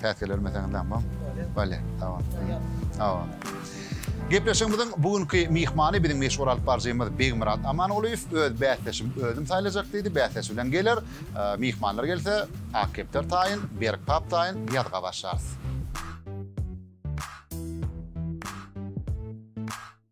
Päsgelerime sen ynanmaň. Bale, sag bol. Sag bol. Gepleşigimiziň bu günki myhmany biziň meşhur alypbaryjymyz Begmyrat Amangulyýew. Öz bäsdeşim özüm saýlajak diýdi. Bäsdeşi bilen geler. Myhmanlar gelse, Ak kepder taýyn, Berk pap taýyn ýazga başlarys.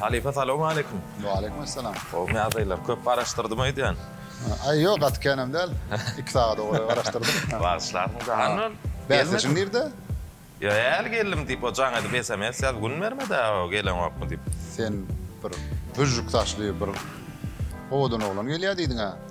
Halypa salawm aleýkum. Waleýkum assalam. Hop nädeýler? Köp garaşdyrdym öýdýän. Aý ýok, gaty känem däl. 2 sagat owal garaşdyrdym. Bagyşlarsyň jahandan. Bäsdeşiň nirde? Ýa äl geldim diýip o jaň edip sms ýaz gün bermedä o geleňokmy diýip. Sen bir büjjük saçly bir owadan oglan gelýär diýdiňä.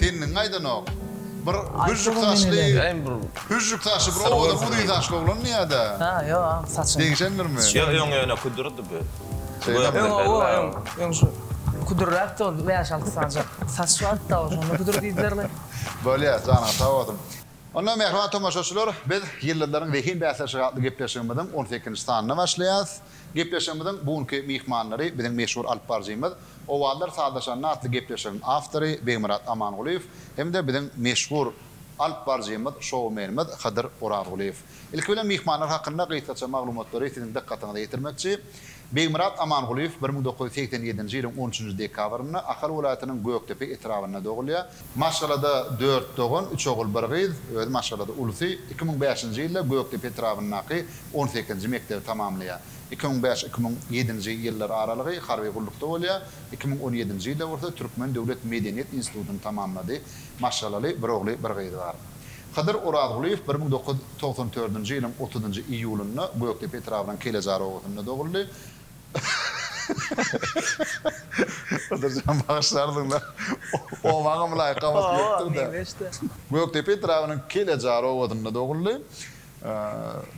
Sen niň aýdanok. Bir hüžžük saçly hüžžük saçly bir owadan uzyn saçly oglanmy ýa-da? Hä, ýok ak saçly. Degişendirmi? Ýok, öň ýöne küdürdi bu. Şeýlemi? Öň owo, öň, öň şu küdürräkdi ol, bäş-alty sanjak saçy bardy-da ol, şonda küdür diýdiler we. Bolýar, janyňyz sag bolsun. Onda, mähriban tomaşaçylar, biz Ýyldyzlaryň zehin bäsleşigi atly gepleşigimiziň on sekizinji sanyna başlaýarys. Gepleşigimiziň bu günki myhmanlary biziň meşhur alyp baryjymyz Owazlar sazlaşanda atly gepleşigiň awtory Begmyrat Amangulyýew hem-de biziň meşhur alyp baryjymyz, şoumenimiz Hydyr Orazgulyýew. Ilki bilen myhmanlar hakynda gysgaça maglumatlary siziň dykgatyňyza ýetirmekçi. Begmyrat Amangulyýew bir müň dokuz ýüz segsen ýedinji ýylyň on üçünji dekabrynda Ahal welaýatynyň Gökdepe etrabynda dogulýar. Maşgalada dört dogan, üç ogul, bir gyz, özi maşgalada ulysy. Iki müň bäşinji ýylda Gökdepe etrabyndaky on sekizinji mekdebi tamamlaýar. Iki müň bäş, iki müň ýedinji ýyllar aralygy harby gullukda bolýar, iki müň on ýedinji ýylda bolsa Türkmen döwlet medeniýet institutyny tamamlady, maşgalaly, bir ogly, bir gyzy bar. Hydyr Orazgulyýew bir müň dokuz ýüz togsan dördünji ýylyň otuzynjy iýulynda Gökdepe etrabynyň Kelejar obasynda doguldy.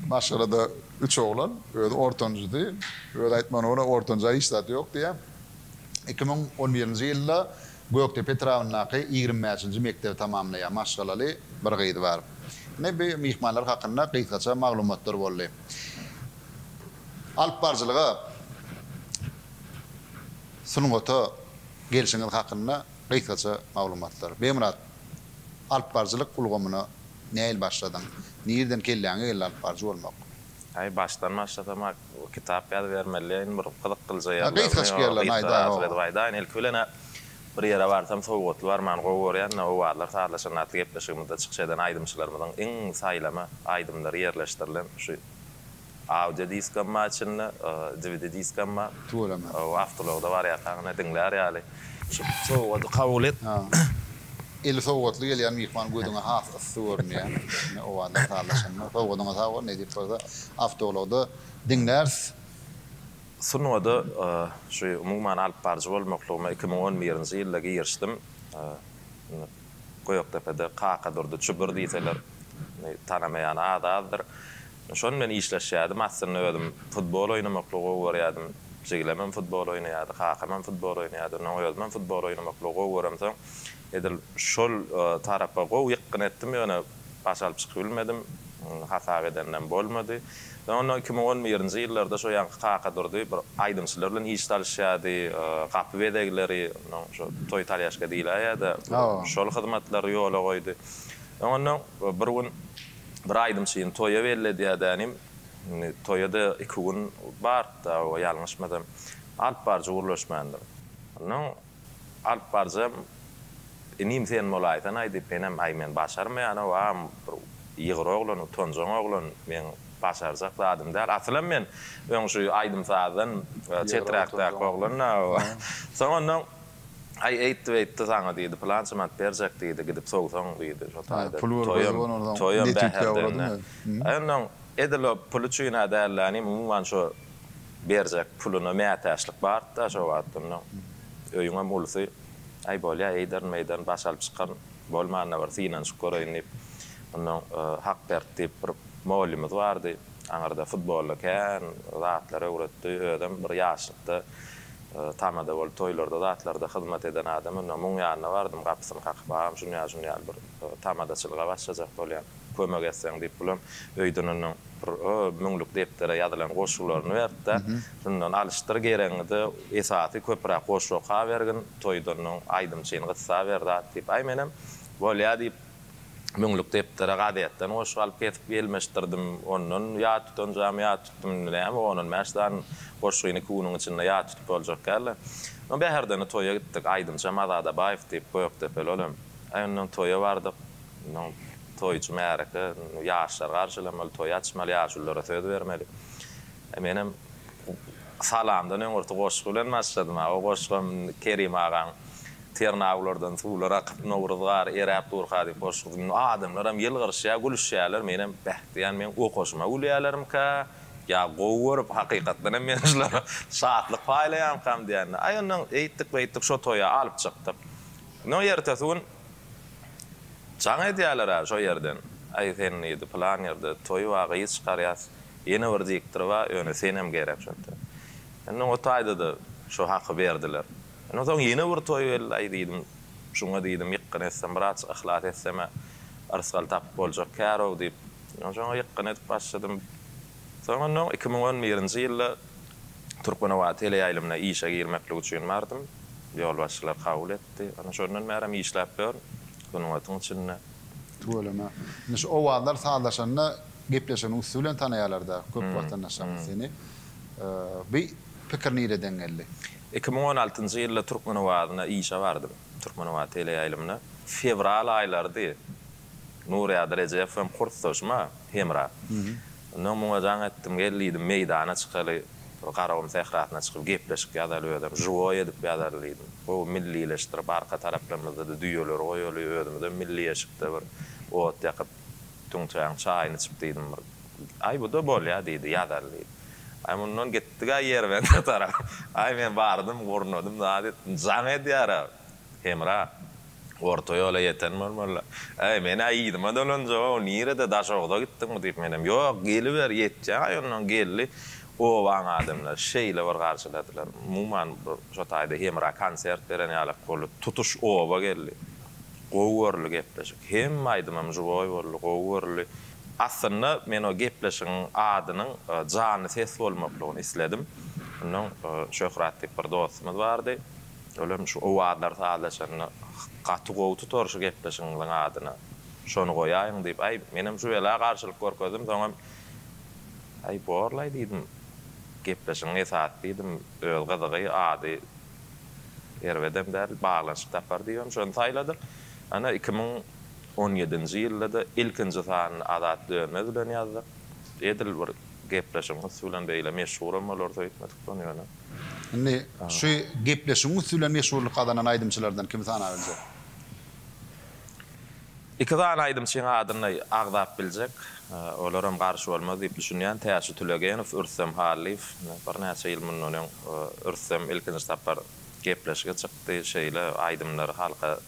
Maşgalada üç oglan, özi ortanjysy. Özi aýtmagyna görä, ortanjy-a hiç zat ýok diýýär. Iki müň on birinji ýylda Gökdepe etrabyndaky ýigrimi bäşinji mekdebi tamamlaýar. Maşgalaly bir gyzy bar. Ine, bu myhmanlar hakynda gysgaça maglumatlar boldy. Alypbaryjylyga, sungata gelşiňiz hakynda gysgaça maglumatlar. Begmyrat, alypbaryjylyk ulgamyna Nähili başladyň? Nirden kelläňe geldi alyp baryjy bolmak? Aý başdan başlasamak kitap ýazybermeliýin bir gyzyk gylja ýerlerini ýa gysga asyl edip aýdaýyn ilki bilen bir ýere barsam sowgatly barmany gowy görýända owazlar sazlaşanda atly gepleşigimizde çykyş eden aýdymçylarymyzyň iň saýlama aýdymlary ýerleşdirilen şu Audio diskam bar içinde, dvd diskam bar. Tüweleme. Ow awtologda barýarkaň ine diňlär ýaly. Şu sowgady kabul et. Ha. Eli sowgatly gelýän myhman gözüňe has yssy görünýär. Ine owazlar sazlaşanda. Sowgadyňa sag bol, nesip bolsa awtologda diňläris. Sungaty şu umuman alyp baryjy bolmaklygyma iki müň on birinji ýylda girişdim. Gökdepede Kakadurdy Çudur diýseler, tanamaýany az-azdyr. Şonuň bilen işleşýärdim. Aslynda özüm futbol oýnamaklygy gowy görýärdim. Jiglemem futbol oýnaýardy, kakamam futbol oýnaýardy. Ondan soň özümem futbol oýnamaklygy gowy göremsoň, edil şol tarapa gowy ýykgyn etdim. Ýöne Baş alyp çykybilmedim. Hasap edenem bolmady. Men onda iki müň on birinji ýyllarda şo ýaňky Kakadurdy bir aýdymçylar bilen iş salyşýardy. Gapy bezegleri, ondan şo toý talýaşka diýläýýä-de, şol hyzmatlary ýola goýdy. Men onda bir gün bir aýdymçyny toýa belledýärdenim. Indi toýa-da iki gün bardy-da, ýalňyşmasam. Alypbaryjy gürleşmändir. Ondan Alyp barjam, inim sen bolaýsanaý diýip menem aý men başarmaýan-ow agam bir ýygyr oglan, utanjaň oglan, meň başarjak zadym däl. Asylam men öň şu aýdym-sazdan çeträkdäki oglan-ow. Soň onnoň aý eýtdi-beýtdi saňa diýdi, pylança manat berjek diýdi, gidip sowsaň diýdi, şo taýda toýam, toýam bäherden-de. Aý onnoň edil o pul üçin-ä däl-de inim umuman şo Berjek puluna mätäçlik bardy-da şo wagt. Onda öýüňem ulusy, Aý, bolýa, eýderin-meýderin, baş alyp çykan bolman-da bir synanyşyp göreýin diýip, ondan Hakberdi diýip bir mugallymymyz bardy. Aňyrda futbolda kän zatlar öwretdi. Özem bir ýaşlykda tamada bolup toýlarda zatlarda hyzmat eden adam. Onda muň ýanyna bardym, gapysyny kakyp, Agam, şuny ýaly-şuny ýaly bir tamadaçylyga başlajak bolýan. kömek etseň diýip bulam öýden onuň bir müňlük depdere ýazylan goşgularyny beripdir. Şundan alyşdyr geregiňi-de esasy köpüräk goşgy okabergin, toýda onuň aýdymçyny gyssaber zat diýip. Aý menem bolýa diýip müňlük depdere gazetden goşgy alyp kesip gelmeşdirdim. Ondan ýat tutanjamy ýat tutdum indi näme on on bäş sany goşgyny iki günüň içinde ýat tutup boljak däldi. Soň Bäherdene toýa gitdik. Aýdymçam Azat Abaýew diýip gökdepeli olam. Aý ondan toýa bardyk. Munuň toýçy märeke, ýaşlar garşylamaly, toý açmaly, ýaşulylara söz bermeli. Menem salamdan öňürti goşgy bilen başladym. O goşgam Kerim agaň Ternawlardan suwlar akyp, Nowruz gary eräp durka diýip goşgusy. Adamlaram ýylgyryşýar, gülüşýärler. Menem beh diýýän, meň okaşyma gülýärlermikä, ýa gowy görüp, hakykatdan hem men şulara şatlyk paýlaýarmykam diýýän. Aý onnoň eýtdik-beýtdik, şo toýa alyp çykdyk. Onnoň ertesi gün Jaň edýäler-ä şo ýerden. Aý sen diýdi, pylan ýerde toý bar, gyz çykarýas, ýene bir diktor bar, ýöne senem gerek şonda. Indi oňa taýda-da şo haky berdiler. Ondan soň ýene bir toý geldi. Aý diýdim, şuňa diýdim, ýykgyn etsem, birazjyk yhlas etsem-ä, yrsgal tapyp boljak kär-ow diýip, ýoňa ýykgyn edip başladym. Soňundan on iki müň on birinji ýylda Türkmenabat teleýaýlymyna işe girmeklik üçin bardym. Ýolbaşçylar kabul etdi. Ana şondan bärem işläp ýörün sungatyň içinde. Tüweleme. Indi şu owazlar sazlaşanda gepleşigiň üsti bilen tanaýarlar-da köp watandaşlarymyz seni. Bu pikir nireden geldi? Iki müň on altynjy ýylda Türkmen owazyna işe bardym. Türkmenabat teleýaýlymyna. Fewral aýlarydy. Nurýady Rejep hem kursdaşym-a, Hemra. Ondan muňa jaň etdim, gel diýdim, meýdana çykaly, bir Garagum sährasyna çykyp gepleşik ýazaly özem, žiwoý edip ýazaly diýdim. Gowy millileşdirip, arka taraplarymyzda-da düýeleri goýaly, özümizem milli eşikde bir ot ýakyp, tüňçäň çaýyny içip diýdim bir. Aý, bu-da bolýa diýdi, ýazaly diýdi. Aý, mundan gitdik-ä Ýerbende tarap. Aý, men bardym, gurnadym, zat etdim. Jaň edýär-ä. Hemra, Orta ýola ýeten bolmalylar. Äý, men-ä yzyma dolanjak-ow, nirede, Daşoguza gitdiňmi? diýip, menem, Ýok, geliber, ýetjek-aý onnoň, geldi. Obaň adamlary şeýle bir garşyladylar. Umuman, bir şo taýda Hemra konsert beren ýalak boldy. Tutuş oba geldi. Gowy görüldi gepleşik. Hemme aýdymym žiwoý boldy, gowy görüldi. Aslynda, men o gepleşigiň adynyň Janly ses bolmaklygyny isledim. Onnoň Şöhrat diýip bir dostumyz bardy. Ol hem şu owazlar sazlaşanda gaty gowy tutar şu gepleşigiňiziň adyny şony goýaýyň diýip aý menem şübela garşylyk görkezdim soňam aý borlaý diýdim gepleşigiň esasy diýdim öz gyzygy ady erbedem däl baglanyşyk tapar diýibem şony saýladym ana iki müň on ýedinji ýyldada ilkinji sanyny Azat Dönmez bilen ýazdyk edil bir gepleşigiň üsti bilen beýle meşhuram bolar söýtmedik şony ýöne. Indi şu gepleşigiň üsti bilen meşhurlyk gazanan aýdymçylardan kimi sanap biljek? Iki sany aýdymçyň adyny agzap biljek. Olaram garşy bolmaz diýip düşünýän. Täçi Tülegenow, Ürstem Hallyýew. Birnäçe ýyl mundan öň Ürstem ilkinji sapar gepleşige çykdy. Şeýle aýdymlary halka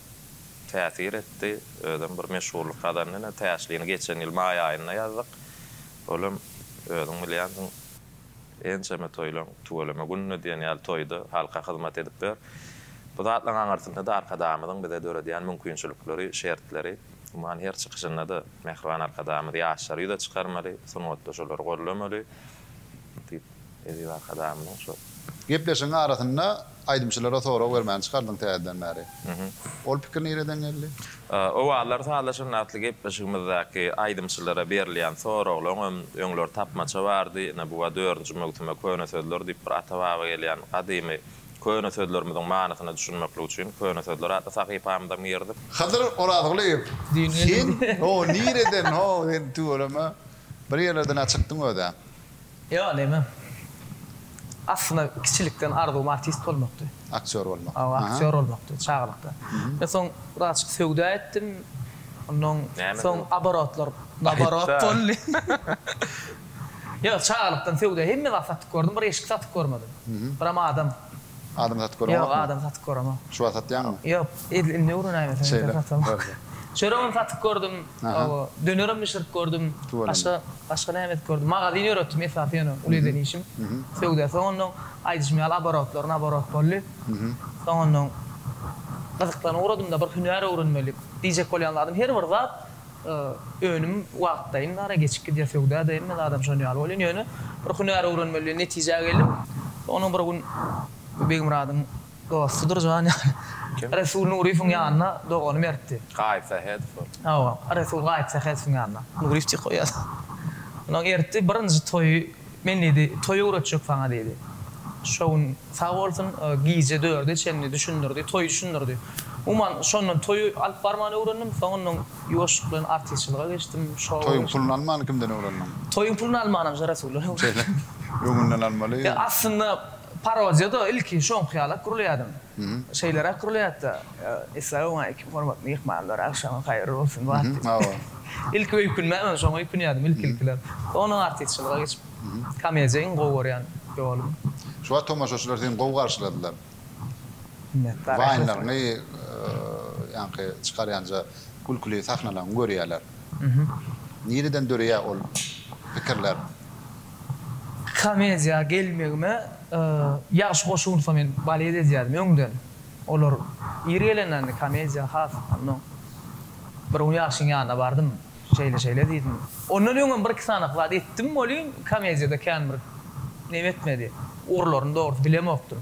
täsir etdi. Özem bir meşhurlyk gazandy. Ine, Täçlini geçen ýyl maý aýynda ýazdyk. Olam özüň bilýänsiň. Ençeme toýlaň tüweleme gününe diýen ýaly toýda halka hyzmat edip ber. Bu zatlaryň aňyrsynda-da Arkadagymyzyň bize döredýän mümkinçilikleri, şertleri. Umuman, her çykyşynda-da mähriban Arkadagymyz ýaşlary ýüze çykarmaly, sungatda şolary gollamaly diýip, eziz Arkadagymyzyň şol. Gepleşigiň arasynda Aýdymçylara sorag bermäni çykardyň täzeden bäri. Ol pikir nireden geldi? Owallar sazlaşan atly gepleşigimizdaky aýdymçylara berilýän soraglaň hem öňler tapmaça bardy. Ine bu-a dördünji möwsüme köne sözler diýip bir ata-baba gelýän gadymy köne sözlerimiziň manysyna düşünmeklik üçin Köne sözler atly sahypamyza girdik. Hydyr Orazgulyýew, sen ho nireden ho sen tüweleme Bir ýerlerden-ä çykdyň öz-ä. Ýok, näme. Aslynda kiçilikden arzuwym artist bolmakdy. Aktýor bolmak. Hawa, aktýor bolmakdy çagalykda. Men soň birazjyk söwda etdim. Ondan soň oborotlar naborot boldy. Ýok, çagalykdan söwda hemme zat satyp gördüm, bir eşik satyp görmedim. Biram adam. Adam satyp görüňokmy? Ýok, adam satyp göremok. Şu wagt satýaňmy? Ýok. Edil indi öwrenäýmeseň ýeke satam. Çöregem satyp gördüm, hawa, dönerem bişirip gördüm, başga, başga näme edip gördüm, magazin ýöretdim, esasy ýöne uly eden işim, söwda. Soňundan, aýdyşym ýaly, oborotlaryn oborot boldy. Soňundan, gyzyklanyp ugradym-da, bir hünär öwrenmeli diýjek bolýan zadym, her bir zat, önüm wagtlaýyn bar, geçip gidýär, söwda-da hemme zadam şon ýaly bolýan, ýöne bir hünär öwrenmeli diýen netijä geldim. Soňundan bir gün Begmyradyň. Dostsudur jan ýaly. Kim? Resul Nuryýewiň ýanyna dogany beripdi. Gaýyp Sähedow ol. Hawa, Resul Gaýyp Sähedowyň ýanyna. Nuryýew diýip goýýar. Ondan ertdi, birinji toýy men diýdi, toý öwretjek saňa diýdi. Şo gün sag bolsun, gije dörde çenli düşündirdi, toýy düşündirdi. Umuman, şondan toýy alyp barmany öwrendim, soňundan ýuwaşlyk bilen artistçylyga geçdim, şowa geçdim. Toýuň puluny almany kimden öwrendiň? Toýuň puluny almanam Resuldan öwrendim. Öňünden almaly. Aslynda Parodiýada ilki şoňky ýaly gürleýärdim. Şeýleräk gürleýärdi-da, Esläwuň-aý kim hormatly myhmanlar, agşamyň haýyrly bolsun wagty. Ilki öýkünmän men şoňa öýkünýärdim ilki-ilkiler. Soňundan artistçylyga geçip, komediýa iň gowy görýän ýolum. Şu wagt tomaşaçylar seni gowy garşyladylar. Minnetdar. Waýnlaryňy, ýaňky çykarýanja gülküli sahnalaryňy görýärler. Nireden döreýär ol pikirler? Komediýa gelmegime ýagşy goşulsa men balet edýärdim öňden. Olar ir gelende indi komediýa has onnoň. Bir gün ýagşyň ýanyna bardym. Şeýle-şeýle diýdim. Ondan öňem bir-iki sanak zat etdim welin komediýada kän bir neme etmedi. Ugurlaryny dogrusy bilemokdym.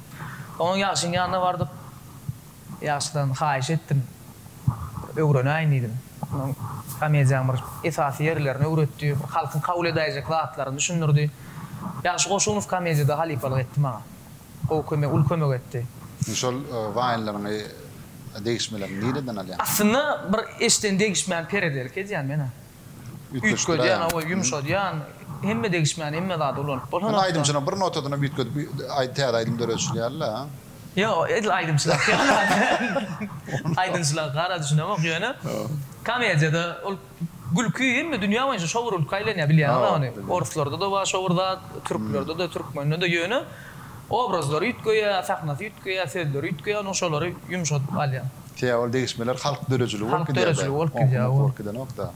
Soňam ýagşyň ýanyna bardyk. Ýaşdan haýyş etdim. Öwrenäýin diýdim. Onuň komediýanyň bir esasy ýerlerini öwretdi. Halkyň kabul edäýjek zatlaryny düşündirdi. Ýagşy Goşunow komediýada halypalyk etdi maňa. Gowy kömek, uly kömek etdi. Indi şol waýnlaryňy, degişmeleriňi nireden alýaň? Aslynda bir eşden degişmäni peredelki edýän men-ä. Üýtgedýän, hawa, ýumşadýan, hemme degişmän, hemme zady ulanyp bolsa notany. Indi aýdymçynyň bir notadyny üýtgedip, täze aýdym döredişilýär-le? Ýok, edil aýdymçylarky ýaly. Aýdymçylaryňky gara düşünemok, ýöne komediýada ol gülki hemme dünýä boýunça şowur gülki aýlanýar, bilýäňiz-ä ony. Orslarda-da bar şowur zat, türklerde-de, türkmende-de, ýöne obrazlary üýtgeýär, sahnasy üýtgeýär, sözleri üýtgeýär, onuň şolary ýumşadyp galýar. Teaol degişmeler halk döredijiligi bolup gidýär. Halk döredijiligi bolup gidýär. Oňkundaky bolup gidenok-da.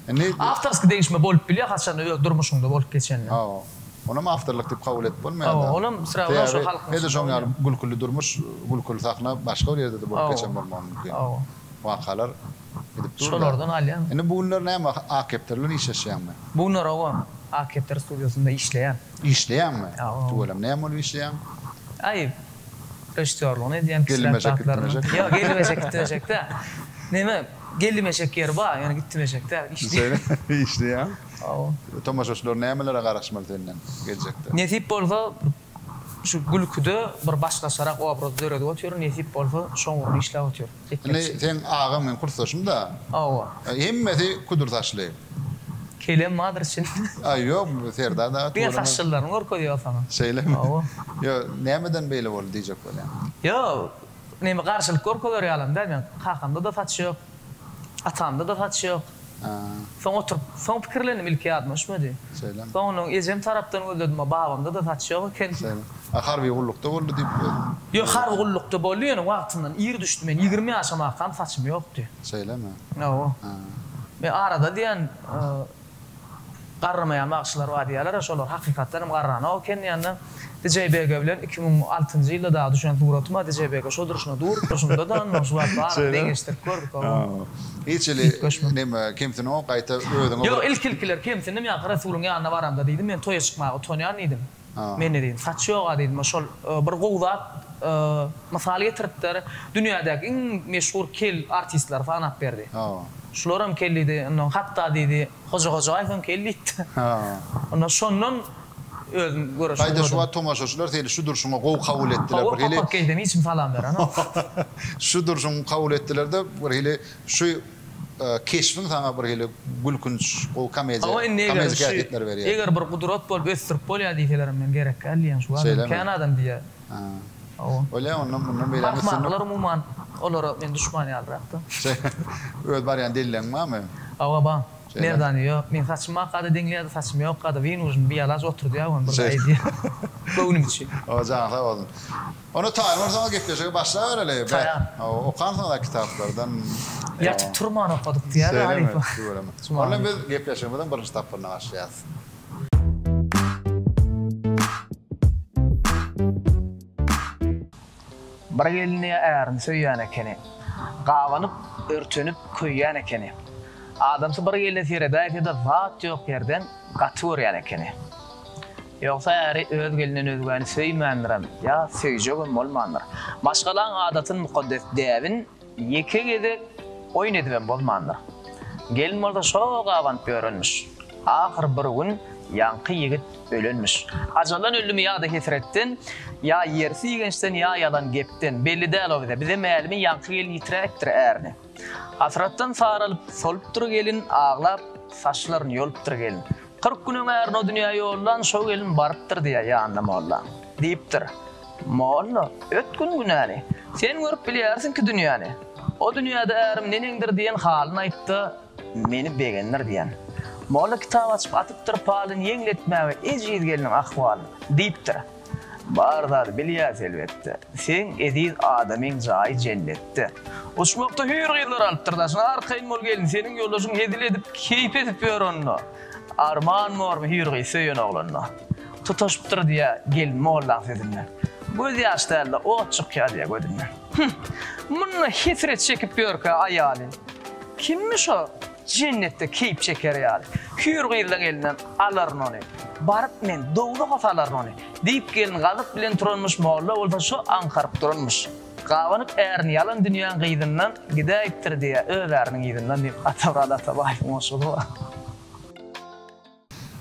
Indi. Awtorskiý degişme bolup bilýär haçan öz durmuşyňda bolup geçende. Hawa. Onam awtorlyk diýip kabul edip bolmaýar-da. Hawa, onam syraglar şo halkyň içinde. Edil şoň ýaly gülküli durmuş, gülküli sahna başga bir ýerde-de bolup geçen bolmagy mümkin. Hawa. Wakalar gidip dur-da. Şolardan alýan. Indi bu günler näme A-kepdar bilen işleşýäňmi? Bu günler hawa, A-kepdar studiýasynda işleýän. Işleýäňmi? Hawa. Tüweleme näme bolup işleýäň? Aý. Režissýorlygyny edýän kişiler zatlaryny. Ýok, gelmejek, gitmejek däl. Neme, gelmejek ýeri bar, ýöne gitmejek däl, işleýän. Işleýän. Hawa. Tomaşaçylar nämelere garaşmaly senden geljekde? Nesip bolsa, şu gülküde bir başgaçarak obraz döredip otyryn, nesip bolsa, şo ugurda işläp otyryn. Indi seň agaň meň kursdaşym da. Hawa. Hemmesi küdür saçly. Kelem badyr çyn. Aý ýok Serdar dagy. Diňe saçlylaryny görkezýär saňa. Şeýlemi? Hawa. Ýo nämeden beýle boldy diýjek bolýan. Ýo neme garşylyk görkezer ýalam däl meň kakamda da saç ýok. Atamda da saç ýok. Soň oturyp, soň pikirlendim, ilki ýadyma düşmedi. Soňundan ejem tarapdan gözledim-ä, babamda-da saç ýok eken. A harby gullukda boldy diýip özüm. Ýok, harby gullukda boldy, ýöne wagtyndan ir düşdi. Men ýigrimi ýaşamakam saçym ýokdy. Şeýlemi? Hawa. Men arada diýen, Garramaýan bagşylar bar diýýärler-ä, şolar hakykatdan hem garranok eken diýende, DJBG bilen iki müň altynjy ýylda dagy düşen suratym-a DJBG şo durşuna dur, durşumda-da onnoň şu wagt baryny deňeşdirip gördük-ow. Hiç ili neme, kemsinok, gaýta özüňe bir. Ýok, ilki-ilkiler kemsindim, ýaňky Resulyň ýanyna baramda diýdim, men toýa çykmaga utanýan diýdim. Men-ä diýdim, saç ýog-a diýdim, o şol bir gowy zat mysal getiripdir, dünýädäki iň meşhur kel artistleri sanap berdi. Şularam kel diýdi, ondan hatda diýdi, Hoja Hojaýewem kel diýipdi. Onda şondan özüm göreşe ugradyň. Gaýda şu wagt tomaşaçylar seni şu durşuňa gowy kabul etdiler. Hawa, papak geýsem hiç kim salam berenok. Şu durşuňy kabul etdiler-de, birhili şu Keşbiň saňa bir hili gülkünç, gowy komediýa, komediki häsiýetleri berýär. Eger bir gudrat bolup ösdürip bolýar diýselerem men gerek däl diýýän şu adam kän adam diýýär. Hawa. Bolýar ondan mundan beýlägini ösdürmek. Parkmarkalar umuman olara men duşman ýalyrakda. Öz barýan delilleň barmy? Hawa bar. Merdany ýok. Meň saçym bar kada deňleýärdi saçym ýok kada wynujny bialac oturdýar wan bir gaýy diýýär. Göwnüm üçin. Hawa janyň sag bolsun. Onda taýyn bolsaňyz gepleşige başlabereli be. Okansyňyz-a kitaplardan. Ýatyp turman okadyk diýýär halypa. Tüweleme tüweleme. Onda biz gepleşigimiziň birinji tapgyryna başlaýarys. Bir gelni ärim söýýän ekeni. Gabanyp, örtenip köýýän ekeni. Adamsy bir gelne seredäýse-de zat ýok ýerden gaty görýän ekeni. Ýogsa äri öz gelinden özgäni söýmändirem, ýa söýjegem bolmandyr. Maşgalaň adatyn mukaddes däbin ýeke gezek oýun edibem bozmandyr. Gelin bolsa şol gabanyp ýörenmiş. Ahyr bir gün ýaňky ýigit ölenmiş. Ajaldan öldümi ýa-da hesretden, ýa ýersi ýigençden, ýa ýalan gepden, belli däl-ow bize. Bize mälimi ýaňky gelin ýitiräpdir ärini. Hasratdan saralyp, solupdyr gelin, aglap, saçlaryny ýolupdyr gelin. Kyrk gün öň ärini o dünýä ýollan şo gelin barypdyr diýýär ýanyna molla. Diýipdir. Molla, öt gün günäni. Sen görüp bilýärsiňki dünýäni. O dünýäde ärim neneňdir diýen halyny aýtdy, meni begendir diýen. Molla kitap açyp atypdyr palyny ýeňletmäge ejiz gelniň ahwalyny. Diýipdir. Bar zady bilýäs elbetde. Seň eziz adamyň jaýy jennetde. Uçmakda hüýr gyzlar alypdyr daşyna Arkaýyn bol gelin seniň ýoldaşyň hezil edip keýp edip ýör onda Arman bormy hüýr gyz söýen oglanda Tutaşypdyr diýýä gelin mollaň sözünden Göz ýaş dälde ot çykýa diýýä gözünden Hüh munda hesret çekip ýörkä aýaly Kimmiş o Jennetde keýp çeker ýaly. Hüýr gyzlaň elinden alaryn ony. Baryp men, dowzaha salaryn ony. Diýip, gelin gazyp bilen turanmyş, molla bolsa şo aňkaryp duranmyş. Gabanyp ärin ýalan dünýäň gyzyndan, gidäýipdir diýýär öz äriniň yzyndan diýip, Atamurat Atabaýewiň goşgudy bu.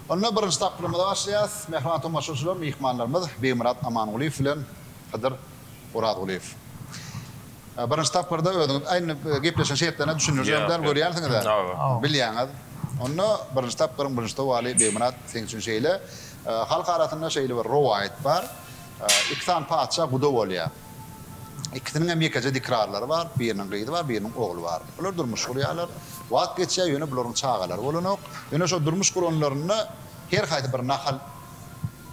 Onda birinji tapgyrymyza başlaýarys. Mähriban tomaşaçylar, myhmanlarymyz Begmyrat Amangulyýew bilen Hydyr Orazgulyýew. Birinji tapgyrda özüňiz aýdyň, gepleşigiň şertlerine düşündirjegem däl, görýänsiňiz-ä, bilýäňiz. Onda birinji tapgyryň birinji sowaly, Begmyrat, seň üçin şeýle, Halk arasynda şeýle bir rowaýat bar, iki sany patyşa guda bolýar. Ikisiniň hem ýekeje dikrarlary bar, biriniň gyzy bar, biriniň ogly bar. Bular durmuş gurýarlar. Wagt geçýär, ýöne bularyň çagalary bolanok. Ýöne şol durmuş guranlarynda her haýsy bir nahal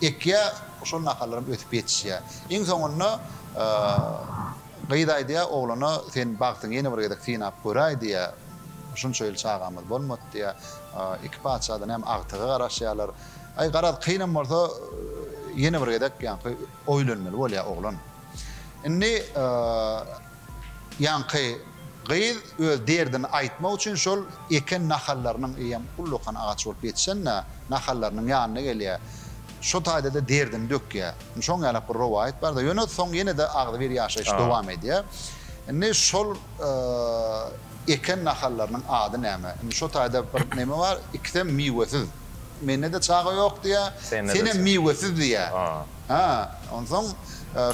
ekýär, şol nahallar hem ösüp ýetişýär. Iň soňunda gyz aýdýar oglana, Sen bagtyňy ýene bir gezek synap göräý diýýär. Şunça ýyl çagamyz bolmady diýýär. Iki patyşa-da näme agtyga garaşýarlar. Aý, garaz, kynam bolsa ýene bir gezek ýaňky oýlenmeli bolýar oglan. Indi ýaňky gyz öz derdini aýtmak üçin şol eken nahallarynyň, eýýäm ullakan agaç bolup ýetişen-dä, nahallarynyň ýanyna gelýär. Şo taýda-da derdini dökýär. Indi şoň ýalak bir rowaýat bar-da. Ýöne soň ýene-de agzybir ýaşaýyş dowam edýär. Indi şol eken nahallarynyň ady näme? Indi şo taýda bir näme bar, ikisem miwesiz. Mende-de çaga ýok diýýär. Senem miwesiz diýýär. Hä, onsoň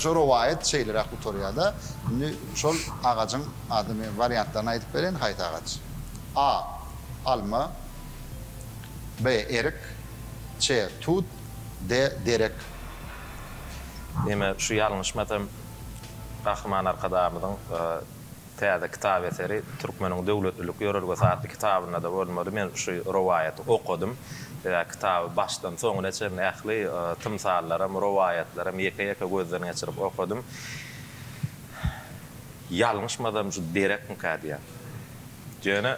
şo rowaýat şeýleräk gutarýar-da. Indi şol agajyň adyny men wariantlaryny aýdyp bereýin, haýsy agaç? A, alma, B, erik, C, tut, D, derek. Ýeme şu ýalňyşmasam Gahryman Arkadagymyzyň. Täze kitap eseri Türkmeniň döwletlilik ýörelgesi atly kitabynda-da bolmady. Men şu rowaýaty okadym. Sebäbi kitaby başdan soňuna çenli ähli tymsallaram, rowaýatlaram ýeke-ýeke gözden geçirip okadym. Ýalňyşmasam şu derekmikä diýýän. Ýöne.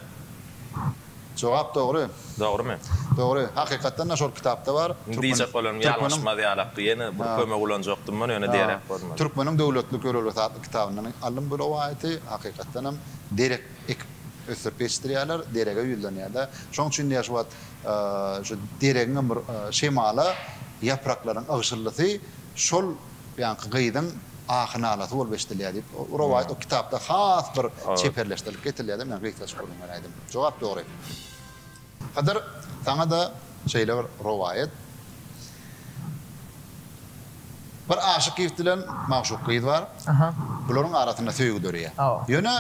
Jogap dogry. Dogrymy? Dogry. Hakykatdan da şol kitapda bar. Indi diýjek bolanm ýalňyşmaz ýalakdy. Ýene bir kömek ulanjakdym men ýöne deýeräk bolmady. Türkmeniň döwletlik ýörelgesi atly kitabyndan aldym bu rowaýaty. Hakykatdan hem derek ekip ösdürip ýetişdirýärler. Derege ýüzlenýärler. Şoň üçin diýýär şu wagt şu deregiňem bir şemala ýapraklaryň ygşyldysy şol Buýanky gyzyň ahy-nalasy bolup eşidilýär diýip, o rowaýat, o kitapda has bir çeperleşdirilip getirilýär-de, men gysgaça gürrüň beräýdim. Jogap dogry. Hydyr, saňa-da şeýle bir rowaýat. Bir aşyk ýigit bilen magşuk gyz bar. Bularyň arasynda söýgi döreýär. Ýöne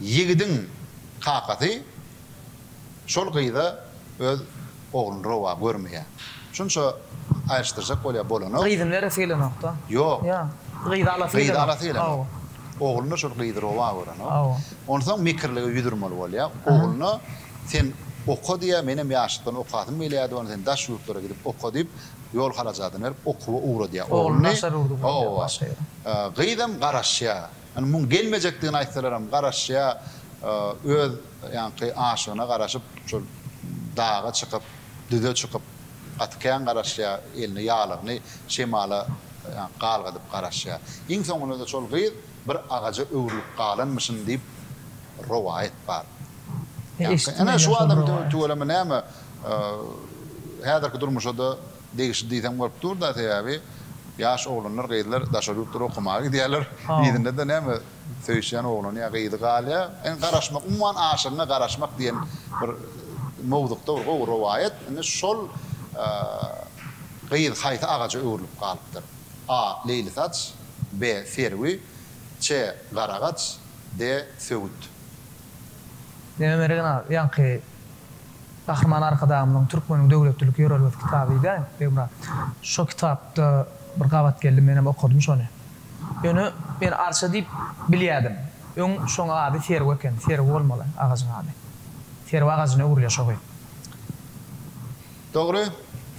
ýigidiň kakasy. Şol gyza öz ogluny rowa görmeýä. Şunça aýryşdyrjak bolýa bolanok. Gyzy neresi gelenokda. Ýok. Ýa. Gyzy alasy gelenok. Gyzy alasy gelenok. Hawa. Ogluna şol gyzy rowa görenok. Hawa. Onsoň mekirlige ýüz urmaly bolýa. Ogluna sen oka diýýä, menem ýaşlykdan okasym gelýärdi, ony sen daş ýurtlara gidip oka diýip, ýol harajadyny berip okuwa ugradýa ogluny. Ogluny daşary urdup goýýa başga ýere. Gyzam garaşýa. Ýöne muň gelmejekdigini aýtsalaram garaşýa öz ýaňky aşygyna garaşyp şol daga çykyp düze çykyp gaty kän garaşýa elini ýalygyny şemala ýaňky galgadyp garaşýa iň soňunada şol gyz bir agaja öwrülip galanmyşyn diýip rowaýat bar ýaňky ene şu adam tüweleme näme häzirki durmuşada Degişli diýseň bolup dur-da, sebäbi ýaş oglanlar, gyzlar daşary ýurtlara okamaga gidýärler. Yzynda-da näme, söýüşýän oglany ýa gyzy galýar. Indi garaşmak, umuman aşygyňa garaşmak diýen bir mowzukda bir gowy rowaýat. Indi şol gyz haýsy agaja öwrülip galypdyr? A. Leýlisaç, B. Serwi, C. Garagaç, D. Söwüt. Ýöne Mergen aga, ýaňky Gahryman Arkadagymyzyň Türkmeniň döwletlilik ýörelgesi kitaby diýýäň, Begmyrat. Şo kitapda bir gabat geldi, menem okadym şony. Ýöne men arça diýip bilýädim. Öň şoň ady serwe eken, serwe bolmaly agajyň ady. Serwe agajyna öwrülýär şo gyz. Dogry,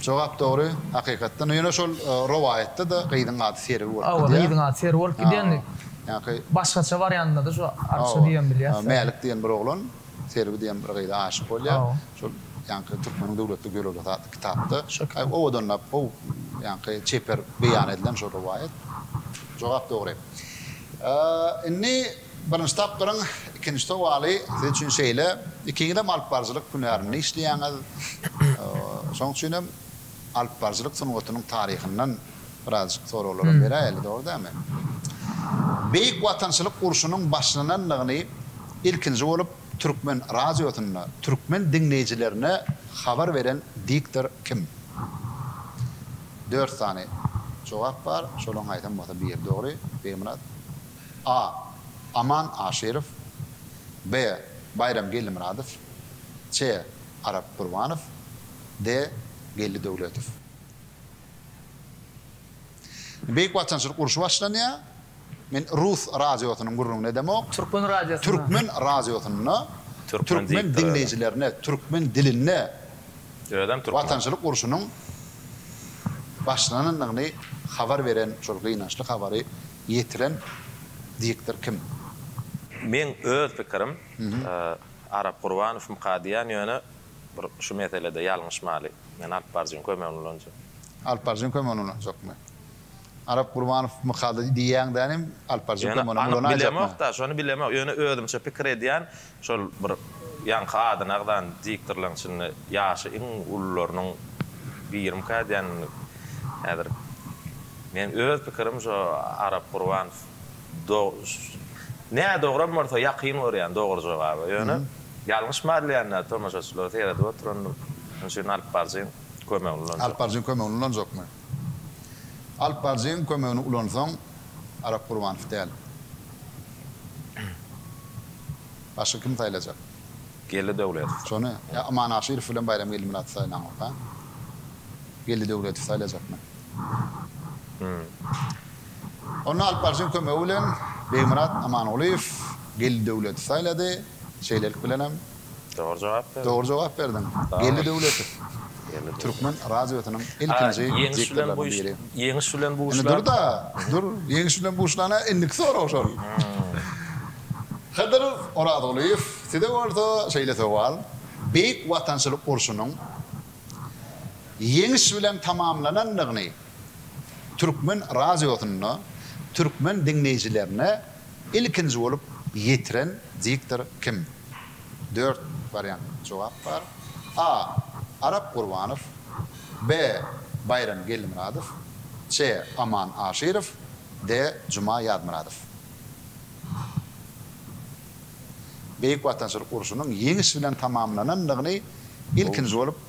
jogap dogry, hakykatdan. Ýöne şol rowaýatda-da gyzyň ady serwe bolup gidýär. Hawa, gyzyň ady serwe bolup gidýär indi. Başgaça barýanynda-da şo arça diýen bilýäs. Mälik diýen bir oglan. Serwi diýen bir gyza aşyk bolýar. Şol ýaňky Türkmeniň döwletli geologiyasy atly kitapda owadanlap, gowy ýaňky çeper beýan edilen şol rowaýat. Jogap dogry. Indi birinji tapgyryň ikinji sowaly siz üçin şeýle, ikiňizem alypbaryjylyk hünärinde işleýäňiz. Şonuň üçin hem alypbaryjylyk sungatynyň taryhyndan birazjyk soraglaram beräýeli, dogry dälmi? Beýik Watançylyk urşunyň başlanandygyny ilkinji bolup türkmen radiosynda türkmen diňleýjilerine habar beren diktor kim? Dört sany jogap bar, şolaryň haýsam bolsa biri dogry, Begmyrat. A. Aman Aşyrow. B. Baýram Geldimyradow. C. Arap Gurbanow. D. Geldi Döwletow. Beýik Watançylyk urşy başlanýar. Men rus radiosynyň gürrüňini edemok. Türkmen radiosynda. Türkmen radiosynda türkmen diňleýjilerine türkmen dilinde Watançylyk urşunyň başlanandygyny habar beren, şol gynançly habary ýetiren diktor kim? Meň öz pikirim, Arap Gurbanow mkadiýan ýöne Bir şu meselede ýalňyşmaly. Men alyp baryjyň kömegini ulanjak. Alyp baryjyň kömegini ulanjakmy? Arap Gurbanow mykady diýýäň däl hem alyp baryjyň Ýöne kömegini anyk bilemok-da, şony bilemok. Ýöne özümçe pikir edýän, şol bir ýaňky adyny agzan diktorlaň içinde ýaşy iň ulularynyň birimikä diýen häzir. Meň öz pikirim şo Arap Gurbanow. Do Nä dogram bolsa ýakyn görýän dogry jogaby. Ýöne ýalňyş mallýanda tomaşaçylary seredip oturandym. Şonuň üçin alyp baryjyň kömegini ulanjak. Alyp baryjyň kömegini ulanjakmy? Alyp baryjyň kömegini ulansaň Arap Gurbanow däl. Başga kimi saýlajak? Geldi Döwletow. Şony ýa Aman Aşyrow bilen Baýram Geldimyradowy saýlaňokka? Geldi Döwletow saýlajakmy? Ony Alp Arsyň kömegi bilen Begmyrat Amangulyýew Geldi Döwleti saýlady. Şeýlelik bilenem. Dogry jogap berdiň. Dogry jogap berdiň. Geldi Döwletow. Türkmen radiosynyň ilkinji diktorlarynyň biri. Ýeňiş bilen buşlan. Indi dur-da, dur. Ýeňiş bilen buşlana indiki sorag şol. Hydyr Orazgulyýew, size bolsa şeýle sowal, Beýik Watançylyk urşunyň Ýeňiş bilen tamamlanandygyny Türkmen radiosynda türkmen diňleýjilerine ilkinji bolup ýetiren diktor kim? Dört wariant jogap bar. A. Arap Gurbanow B. Baýram Geldimyradow C. Aman Aşyrow D. Juma Ýazmyradow Beýik Watançylyk urşunyň ýeňiş bilen tamamlanandygyny ilkinji bolup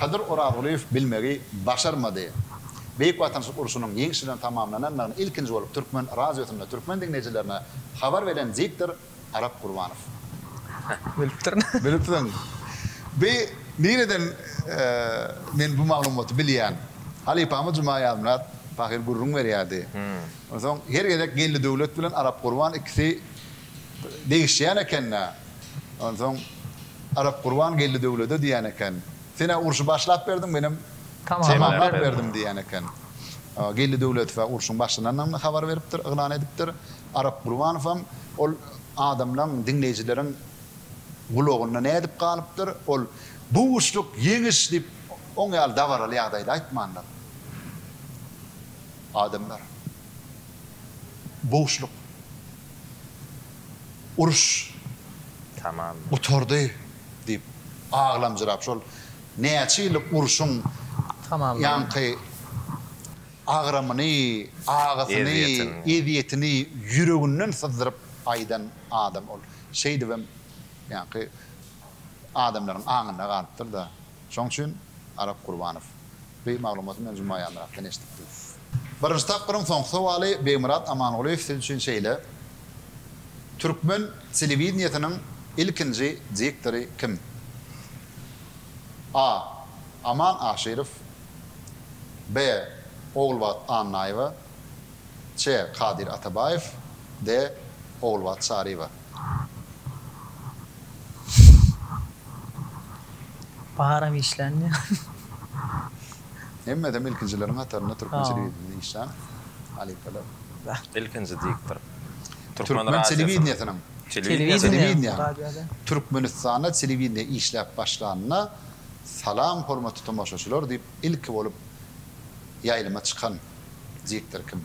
Kadyr Orazgulyýew bilmegi başarmady. Beýik Watançylyk urşunyň ýeňiş bilen tamamlanandygyny ilkinji bolup türkmen radiosynda türkmen diňleýjilerine habar beren diktor Arap Gurbanow. Bilipdirin. Bilipdirin. Bi nireden men bu maglumaty bilýän? Halypamyz Juma Ýazmyrat pahyr gürrüň berýärdi. Onsoň her gezek Geldi Döwlet bilen Arap Gurban ikisi Degişýän eken-dä. Onsoň Arapgurban geldi döwlede diýen eken. Sen-ä urşy başlap berdiň, menem tamamlap berdim diýen eken. Geldi Döwletow-ä urşuň başlananyny habar beripdir, yglan edipdir. Arapgurbanowam ol adamlaryň, diňleýjileriň gulagynda nädip galypdyr, ol Buşluk, ýeňiş! diýip, oň ýaly dabaraly ýagdaýda aýtmandyr. Adamlar. Buşluk. Uruş Tamam boldy. gutardy diýip aglamjyrap şol näçe ýyllyk urşuň Tamam boldy. ýaňky agramyny, agysyny, Ezýetini. ezýetini ýüreginden syzdyryp aýdan adam ol. Şeýdibem ýaňky adamlaryň aňynda galypdyr-da. Şoň üçin Arap Gurbanow. Beý maglumaty men Juma Ýalmyratdan eşdipdim. Birinji tapgyryň soňky sowaly Begmyrat Amangulyýew siz üçin şeýle, Türkmen telewideniýesiniň ilkinji diktory kim? A. Aman Aşyrow B. Ogulbat Annaýewa C. Kadyr Atabaýew D. Ogulbat Çaryýewa. Baram işländir. Hemmesem ilkinjileriň hatarynda türkmen telewideniýesinde işlän halypalar. Ilkinji diktor. Türkmen telewideniýesiniň. Telewideniýe. Türkmenistanda telewideniýe işläp başlanyna salam hormatly tomaşaçylar diýip ilki bolup ýaýlyma çykan diktor kim?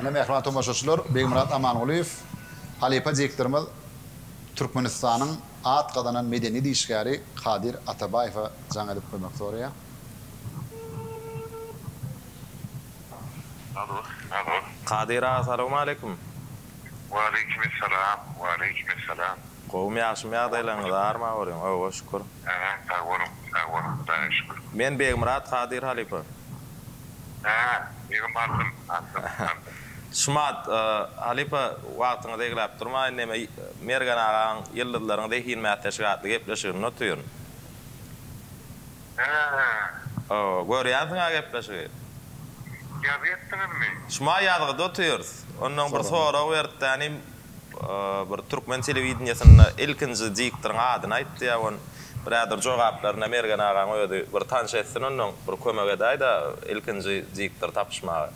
Ine, mähriban tomaşaçylar, Begmyrat Amangulyýew, halypa diktorymyz Türkmenistanyň at gazanan medeniýet işgäri Kadyr Atabaýewe jaň edip kömek soraýar. Alo, alo. Kadyr aga, salawmaleýkim. Waleýkimessalam, waleýkimessalam. Gowum ýagşym ýagdaýlaryňyz arma bolyň owa şükür. Hä sag boluň sag boluň hudaýa şükür. Men Begmyrat Kadyr halypa. Hä jigim aldym aldym aldym. Şumat halypa wagtyňyzy egläp durmaýyn neme Mergen agaň ýyldyzlaryň zehin mätleşigi atly gepleşigini notyryn. Hää. Owa görýänsiňä gepleşigi. Ýazyp etdiňizmi. Şuma ýazgyda otyrys. Ondan bir sorag beripdänim. Bir türkmen telewideniýesinde ilkinji diktoryň adyny aýt diýýär on bräder jogaplaryna Mergen agaň özi bir tanş etsin onnoň bir kömek edäýdä ilkinji diktory tapyşmaga.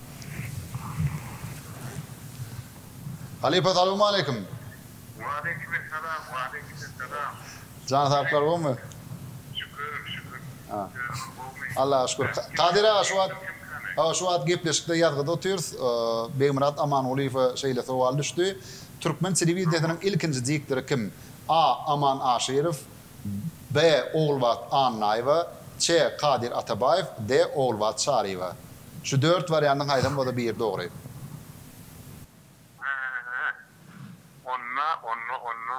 Halypa salowmaleýkim. Waleýkimessalam waleýkimessalam. Jany saglar gowmy. Şükür şükür özüňiz gowmy. Allaha şükür Kadyr aga şu wagt Hawa şu wagt gepleşikde ýazgyda otyrys Begmyrat Amangulyýewe şeýle sowal düşdi Türkmen telewidenýesiniň ilkinji diktory kim A. Aman Aşyrow B. Ogulbat Annaýewa C. Kadyr Atabaýew D. Ogulbat Çaryýewa şu dört wariantyň haýsam bolsa biri dogry. Hä hä hä onna onna onna.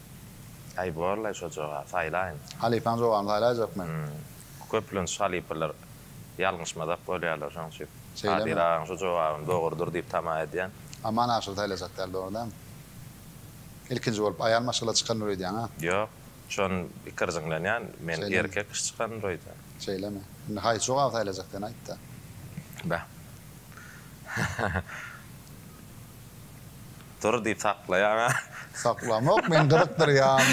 Aý borlaý şo joga saýlaýyn. Halypaň jogany saýlaýjakmy? Hum. Köplenç halypalar ýalňyşmazak bolýarlar şoň üçin. Şeýlemi? Kadyr agaň şu jogabyny dogrudyr diýip tama edýän. Aman aşyr saýlajak däl dogry dämi? Ilkinji bolup aýal maşgala çykalyr öýdýäňä? Ýok. Şon ikirjiňlenýän men erkek kişi çykalyr öýdýän. Şeýlemi? Indi haýsy jogaby saýlajak sen aýtda. Bäh. Dur diýip saklaýaňa. Saklamok men gyzykdyrýan.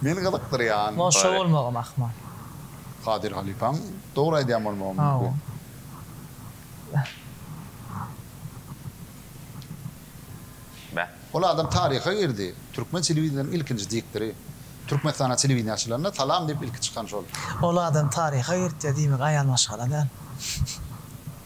Men gyzykdyrýan. Muňa şo bolmagam ahmal. Kadyr halypaň dogry aýdýan bolmagam mümkin. Beh. Ol adam taryha girdi. Türkmen telewideniýäniň ilkinji diktory. Türkmenistana telewideniýe açylanda salam diýip ilki çykan şol. Ol adam taryha girtýär diýmek aýal maşgala däl.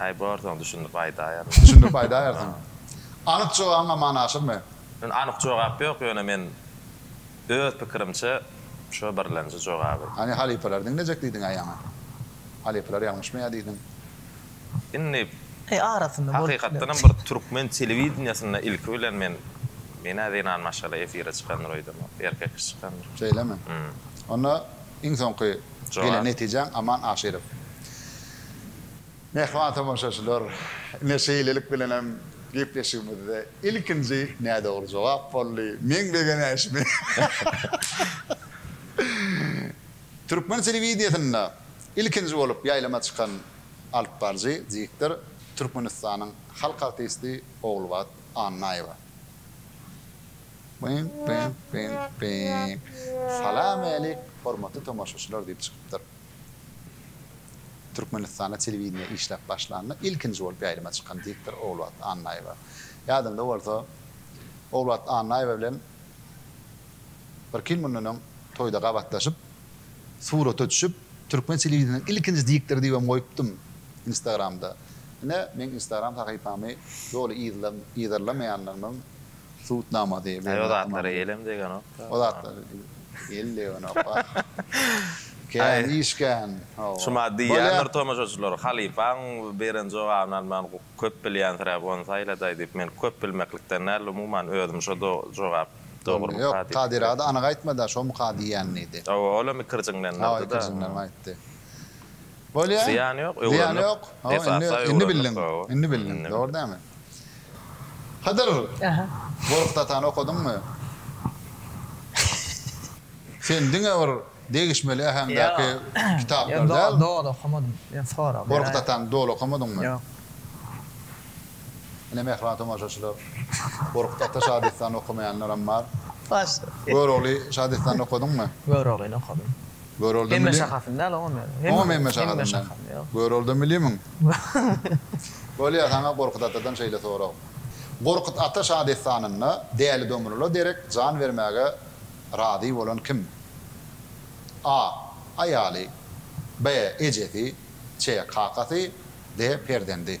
Aý bar soň düşündip aýdaýaryn. Düşündip aýdaýarsyň. Anyk jogabyň aman aşyrmy? Men anyk jogap ýok ýöne men öz pikirimçe şo birlenji jogaby. Hany halypalar diňlejek diýdiňä ýaňy. Halypalar ýalňyşmy ýa diýdiň. Indi He arasynda bolup biler. Hakykatdan hem bir türkmen telewideniýesinde ilki bilen men menä zenan maşgala efire çykandyr öýdemok. Erkek kişi çykandyr. Şeýlemi? Onda iň soňky gelen netijäň Aman Aşyrow. Mähriban tomaşaçylar, ine şeýlelik bilenem gepleşigimizde ilkinji nädogry jogap boldy. Meň begenäýşimi Türkmen telewideniýesinde ilkinji bolup ýaýlyma çykan alyp baryjy diktor Türkmenistanyň halk artisti Ogulbat Annaýewa. Salam älik hormatly tomaşaçylar diýip çykypdyr. Türkmenistanda telewideniýede işläp başlanda ilkinji bolup ýaýlyma çykan diktor Ogulbagt Annaýewa. Ýadyňda bolsa, Ogulbagt Annaýewa bilen birki ýyl mundan öň toýda gabatlaşyp, surata düşüp, türkmen telewideniýesiniň ilkinji diktory diýibem goýupdym Instagramda. Ine, meň Instagram sahypamy doly yzlap, yzarlamaýanlarymyň Sud namasy bermekde. Aý o zatlara elem degenokda. O zatlara el degenokka. Kän iş kän. Hawa. Şuma diýýändir tomaşaçylar, halypaň beren jogabyny alman köp bilýänsiräp ony saýladaý diýip. Men köp bilmeklikden däl, umuman özüm şo jogap dogrumyka diýip. Ýok, Kadyra-da anyk aýtmady-a, şomuka diýýän diýdi. Hawa, olam ikirjiňlendirdi-de. Hawa, ikirjiňlenip aýtdy. Bolýa. Zyýany ýok, öwrenmek. Zyýany ýok. Indi bildiň. Indi bildiň. Dogry dälmi? Hydyr. Gorkut atany okadyňmy? Sen diňe bir degişmeli äheňdäki kitaplary däl. Ýok, doly okamadym. Ýöne sorag beräýen. Gorkut atany doly okamadyňmy? Ýok. Ine mähriban tomaşaçylar, Gorkut ata şadessany okamaýanlaram bar. Görogly şadessanyny okadyňmy? Göroglyny okadym. Göroldym Hemme şahasyn däl oňam ýaly. Oňam hemme şahasyn däl. Göroldym bilimiň. Bolýa saňa Gorkut atadan şeýle sorag. Gorkut ata şadessanynda Däli Domrula derek jan bermäge razy bolan kim? A. Aýaly B. Ejesi C. Kakasy D. Perzendi.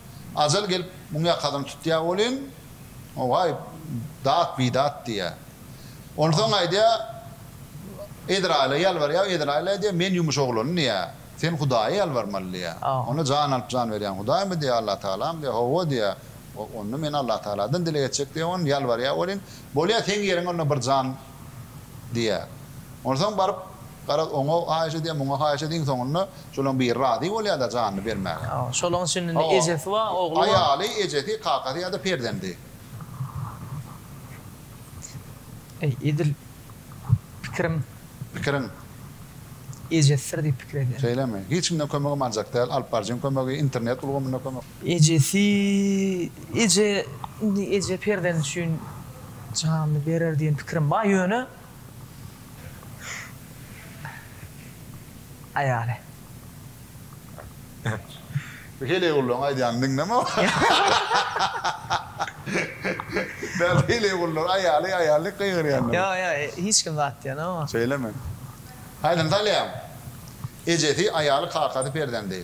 Ajal gelip, muň ýakadan tutýar welin, Owaý, dat bidat diýýär. Onsoň aýdýar, Ezraýyla ýalbarýar, Ezraýyl aýdýar, Men ýumuş oglany diýýär, sen Hudaýa ýalbarmaly diýýär. Onda jan alyp jan berýän Hudaýmy diýýär, Allatagalamy diýýär, Hawa diýýär, onda men Allatagaladan dileg etjek diýýär, on ýalbarýar welin, Bolýar, seň ýeriňe onda bir jan diýýär. Onsoň baryp, garaz, oňa haýyş edýär, muňa haýyş edýär, iň soňunda şolaryň biri razy bolýar-da janyny bermäge. Hawa, şolaryň içinde indi ejesi bar, ogly bar. Aýaly, ejesi, kakasy ýa-da perzendi. Eý, edil pikiriň. Pikiriň. Ejesidir diýip pikir edýän. Şeýlemi? Hiç kimden kömegim aljak däl, alyp barjyň kömegi, internet ulgamynda kömek. Ejesi, Eje, indi eje perzendi üçin janyny berer diýen pikirim bar, ýöne Aýaly. Bu heleýgullaryň aýdýanyny diňleme wah. Dal heleýgullar aýaly, aýaly diýip gygyrýanlar. Ýok, ýok, hiç kim zat diýen ýok. Şeýlemi? Aýdym salýaň. Ejesi, aýaly, kakasy, perzendi.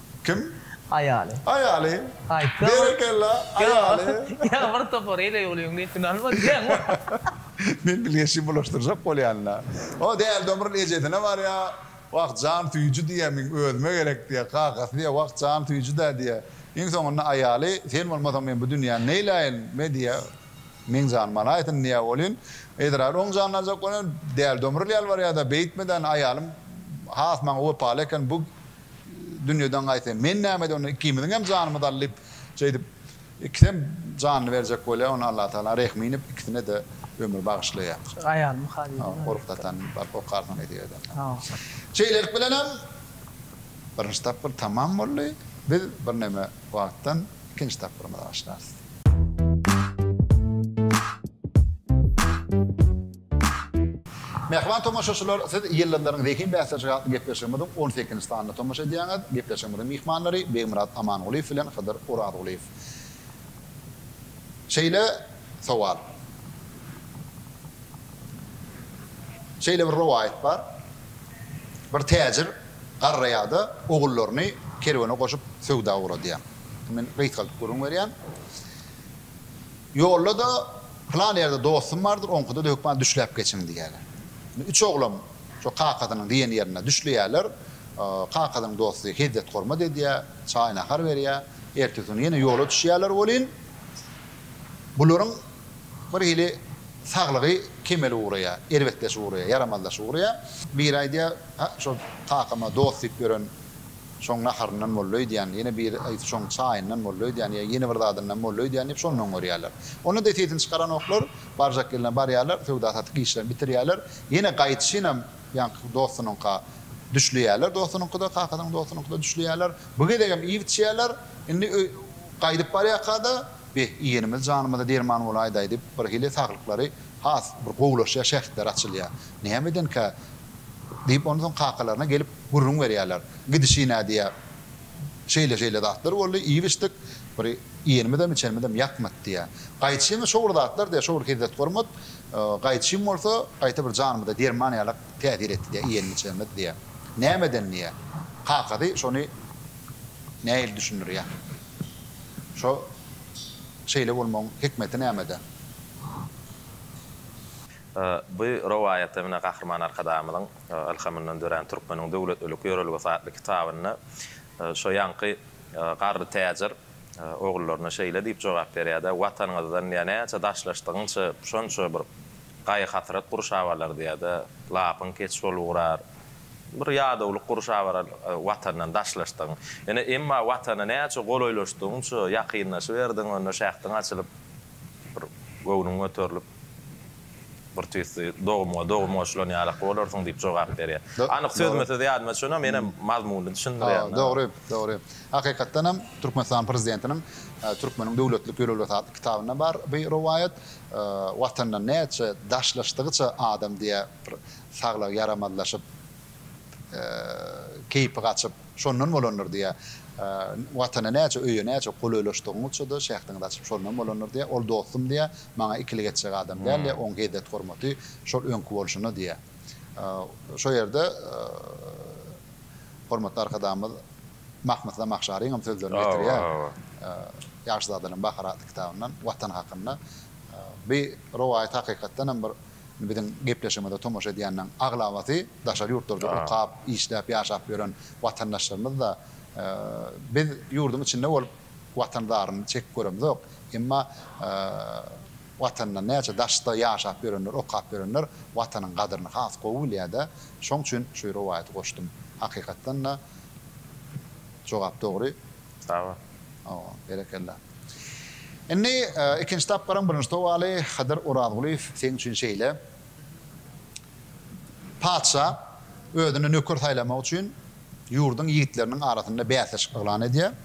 Kim? Aýaly. Aýaly. Aýtsa bol. Berekella, aýaly. Ýa bir topar ele ýolyň gepini almadyňmy? Men bilgeşi bulaşdyrjak bolýan-la. O däli Domrul ejesine barýa, Wah, jan süýji diýýä, meň özüme gerek diýýä, kakasy diýýä, Wah, jan süýji-dä diýýä. Iň soňunda aýaly, Sen bolmasaň men bu dünýäni neýläýin? Me diýýä, Meň janym alaýsyn diýýä welin, Ezraýyl oň janyny aljak bolan, däli Domrul ýalbarýa-da, Beýtme-dä, aýalym has maňa wepaly eken, bu dünýeden gaýtsam, men näme edip onda ikimiziň hem janymyzy al diýip, şeýdip, ikisem janyny berjek bolýar, onda Allatagala rehmi inip, ikisine-de ömür bagyşlaýar. Aýalymy Halilden aýryp Uruk datan baryp okarsyň diýdi ýerden. Şeýlelik bilenem birinji tapgyr tamam boldy. Biz birneme wagtdan ikinji tapgyrymyza başlarys. Mähriban tomaşaçylar, siz Ýyldyzlaryň zehin bäsleşigi atly gepleşigimiziň on sekinji sanyna tomaşa edýäňiz. Gepleşigimiziň myhmanlary Begmyrat Amangulyýew bilen Hydyr Orazgulyýew. Şeýle sowal. Şeýle bir rowaýat bar. Bir täjir. Garraýa-da ogullaryny kerwene goşup söwda ugradýar. Men reýd galyp gürrüň berýän. Ýolda-da Pylan ýerde dostum bardyr, oňkuda-da hökman düşläp geçiň diýýärler. Indi üç oglan şo kakasynyň diýen ýerinde düşleýärler. Kakasynyň dosty hezzet-hormat edýär, çaý-nahar berýär. Ertesi gün ýene ýola düşýärler welin, bularyň bir hili saglygy kemele ugraýar, erbetleşip ugraýar, ýaramazlaşyp ugraýar. Biri aýdýar, Hä, şol kakama dost diýip ýören şoň naharyndan boldy öýdýän, ýene biri aýtsa şoň çaýyndan boldy öýdýän, ýa ýene bir zadyndan boldy öýdýän diýip şondan görýärler. Onda desisini çykaranoklar, barjak ýerine barýarlar, söwda-satyk işlerini bitirýärler, ýene gaýdyşynam ýaňky dostunyňka düşleýärler, dostunyňkyda, kakasynyň dostunyňkyda düşleýärler. Bu gezegem iýip-içýärler, indi gaýdyp barýarka-da, Be, iýenimiz janymyza derman bolaýdaý diýip, birhili saglyklary has bir gowulaşýar, şähitleri açylýar. Näme edenkä? diýip, ondan soň kakalaryna gelip gürrüň berýärler. Gidişine diýýär, Şeýle-şeýle zatlar boldy, iýip-içdik, bir iýenimizem, içenimizem ýakmady diýýär. Gaýçyňa şo bir zatlar diýýär, şo bir hezzet hormat, gaýçym bolsa, gaýta bir janymyza derman ýalak täsir etdi diýýär, iýenimiz-içenimiz diýýär. Näme eden diýýär. Kakasy şony nähili düşündirýär? Şo şeýle bolmagyň hikmeti nämede? Bu rowaýata Mine Gahryman Arkadagymyzyň ylhamyndan dörän Türkmeniň döwletlilik ýörelgesi atly kitabynda şo ýaňky garry täjir ogullaryna şeýle diýip jogap berýär-de, Watanyňyzdan ýa näçe daşlaşdygyňça, şonça bir Gaýgy-hasrat gurşap alardy ýa-da lapyň keç bolup ugrar. Bir ýadawlyk gurşap alar Watandan daşlaşdygyň. Ýöne emma Watana näçe golaýlaşdygyňça, ýakynlaşyberdigiň onda şähdiň açylyp, bir göwnüň göterilip, bir tüýsli dogumyňa dogum goşulan ýalak bolarsyň diýip jogap berýär. Anyk sözme-söz ýadyma düşenok, menem mazmunyny düşündirýän. Dogry, dogry. Hakykatdanam Türkmenistan Prezidentiniň Türkmeniň döwletlik ýörelgesi atly kitabynda bar bu rowaýat. Watandan näçe daşlaşdygyça adam diýä bir saglygy ýaramazlaşyp, keýpi gaçyp, şondan bolandyr diýä. Watana näçe, öýe näçe golaýlaşdygyňyça-da şähdiňiz açyp, şondan bolandyr diýä. Ol dostum diýä, maňa ikilik etjek adam däl diýä, oň hezzet-hormaty şol öňki bolşuna diýä. Şo ýerde hormatly Arkadagymyz Mahmyt Zamahşarynyňam sözlerini getirýär. Ýagşyzadalaryň bahary atly kitabyndan Watan hakynda. Bu rowaýat hakykatdanam bir biziň gepleşigimize tomaşa edýänleriň aglabasy daşary ýurtlarda okap, işläp, ýaşap ýören watandaşlarymyz-da. Biz ýurduň içinde bolup Watan zaryny çekip göremzok. Emma Watandan näçe daşda ýaşap ýörenler, okap ýörenler Watanyň gadyryny has gowy bilýär-de. Şoň üçin şu rowaýaty goşdum. Hakykatdan-da, Jogap dogry. Sag bol. Owa, berekella. Indi ikinji tapgyryň birinji sowaly, Hydyr Orazgulyýew, seň üçin şeýle. Patyşa özüne nöker saýlamak üçin ýurduň ýigitleriniň arasynda bäsleşik yglan edýär.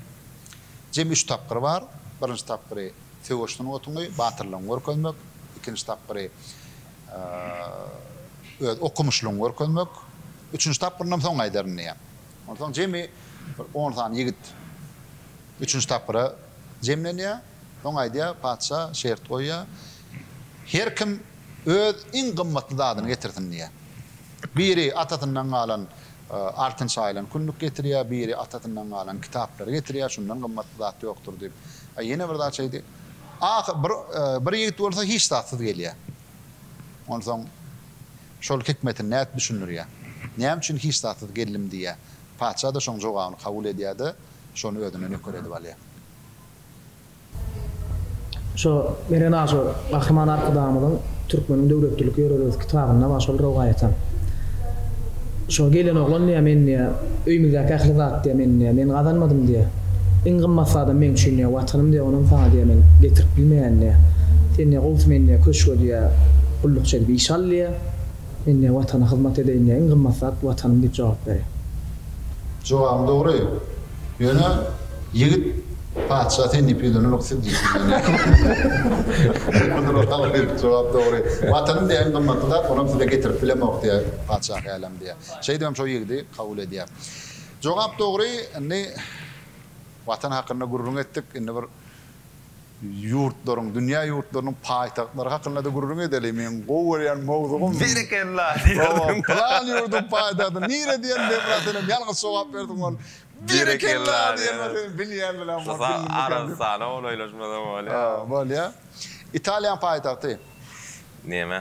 Jemi üç tapgyry bar. Birinji tapgyry söweş sungatyňy, batyrlygyňy görkezmek. Ikinji tapgyry. öz okumyşlygyňy görkezmek, üçünji tapgyrynam soň gaýdaryn diýýär. Onsoň jemi bir on sany ýigit üçünji tapgyra jemlenýär. Soň aýdýar, patyşa şert goýýar, Her kim öz iň gymmatly zadyny getirsin diýýär. Biri atasyndan galan altyn şaýylan küllük getirýär, biri atasyndan galan kitaplary getirýär, şundan gymmatly zat ýokdur diýip. Ýene bir zat şeýdi. Ah, bir, bir ýigit bolsa hiç zatsyz gelýär. Onsoň şol hikmetini nädip düşündirýär? Näme üçin hiç zatsyz geldim diýýär. Patyşa-da şoň jogabyny kabul edýär-de, şony özüne nöker edip alýar. Şo Meren aga şo Gahryman Arkadagymyzyň Türkmeniň döwletlilik ýörelgesi kitabynda bar şol rowaýatam. Şo gelen oglan diýýär, men diýýär, öýümizdäki ähli zat diýýär, men diýýär, men gazanmadym diýýär. Iň gymmat zadam meň üçin diýýär, Watanym diýýär, onam saňa diýýär, men getirip bilmeýän diýýär. Sen diýýär, gowusy meni diýýär, köşge diýýär, gullukçy edip iş al diýýär. Men diýýär, Watana hyzmat edeýin diýýär, iň gymmat zat Watanym diýip jogap berýär. Jogabyň dogry. Ýöne ýigit Patyşa sen diýip ýüzlenenok siz diýip ýüzlendi. Munuň haly diýip jogap dogry. Watanym diýen gymmatly zat onam size getirip bilemok diýýär Patyşa hälem diýýär. Şeýdibem şo ýigidi kabul edýär. Jogap dogry indi Watan hakynda gürrüň etdik indi bir Ýurtlaryň, dünýä ýurtlarynyň paýtagtlary hakynda-da gürrüň edeli. Meň gowy görýän mowzugym. Berekella! diýerdim. Pylan ýurduň paýtagty nire diýen demra senem ýalňyş jogap berdiň ol. Berekella! diýen ol seniň bilýän bilen bor. Şusa Arabystana golaýlaşmasam bolýa. Bolýa. Italiýaň paýtagty. Neme?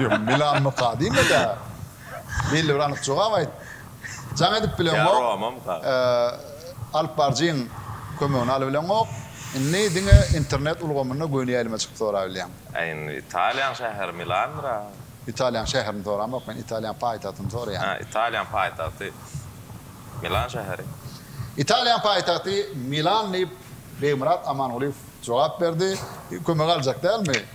Ýok, Milanmyka diýme-dä. Belli bir anyk jogap aýt. Jaň edip bileňok. Alyp baryjyň kömegini alybileňok. Indi diňe internet ulgamynda göni ýaýlyma çykyp sorabilýäň. Äý indi Italiýaň şäheri Milandyr-a? Italiýaň şäherini soramok men, Italiýaň paýtagtyny soraýan. Hä, Italiýaň paýtagty Milan şäheri. Italiýaň paýtagty Milan diýip, Begmyrat Amangulyýew jogap berdi. Kömek aljak dälmi?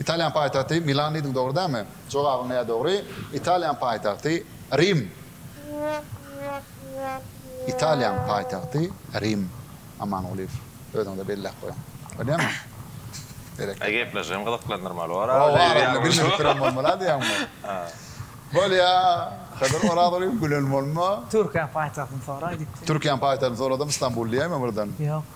Italiýanyň paýtagty Milan diýdiň dogry dälmi? Jogabyň nädip dogry? Italiýanyň paýtagty Rim. Italiýanyň paýtagty Rim. Amangulyýew özüňize belläp goýuň. Bolýamy? Berekella. Gepleşigem gyzyklandyrmaly bor a. Oba arasynda gülmejek duran bolmaly a diýýäňmi? Bolýa. Hydyr Orazolyýew gülen bolma. Türkiýäň paýtagtyny soraý diýipsiň. Türkiýäň paýtagtyny soradym Istanbul diýäýmä birden. Ýok.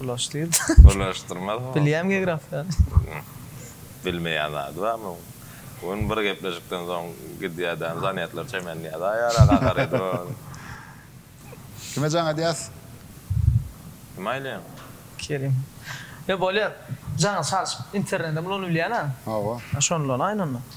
Bulaş diýip. Bulaşdyrmaz. Bilýän geografiýany. Bilmeýän zady barmy onuň? Bu gün bir gepleşikden soň gidýädän zanýatlar çemenleýär. Aý ara kakar edi ony. Kime jaň edýäs? Kime aýlaýaň? Kerim. Ýa bolýar. Jaňyz çalşyp internedem ulanybilýän-ä. Hawa. Şondan aýlanda.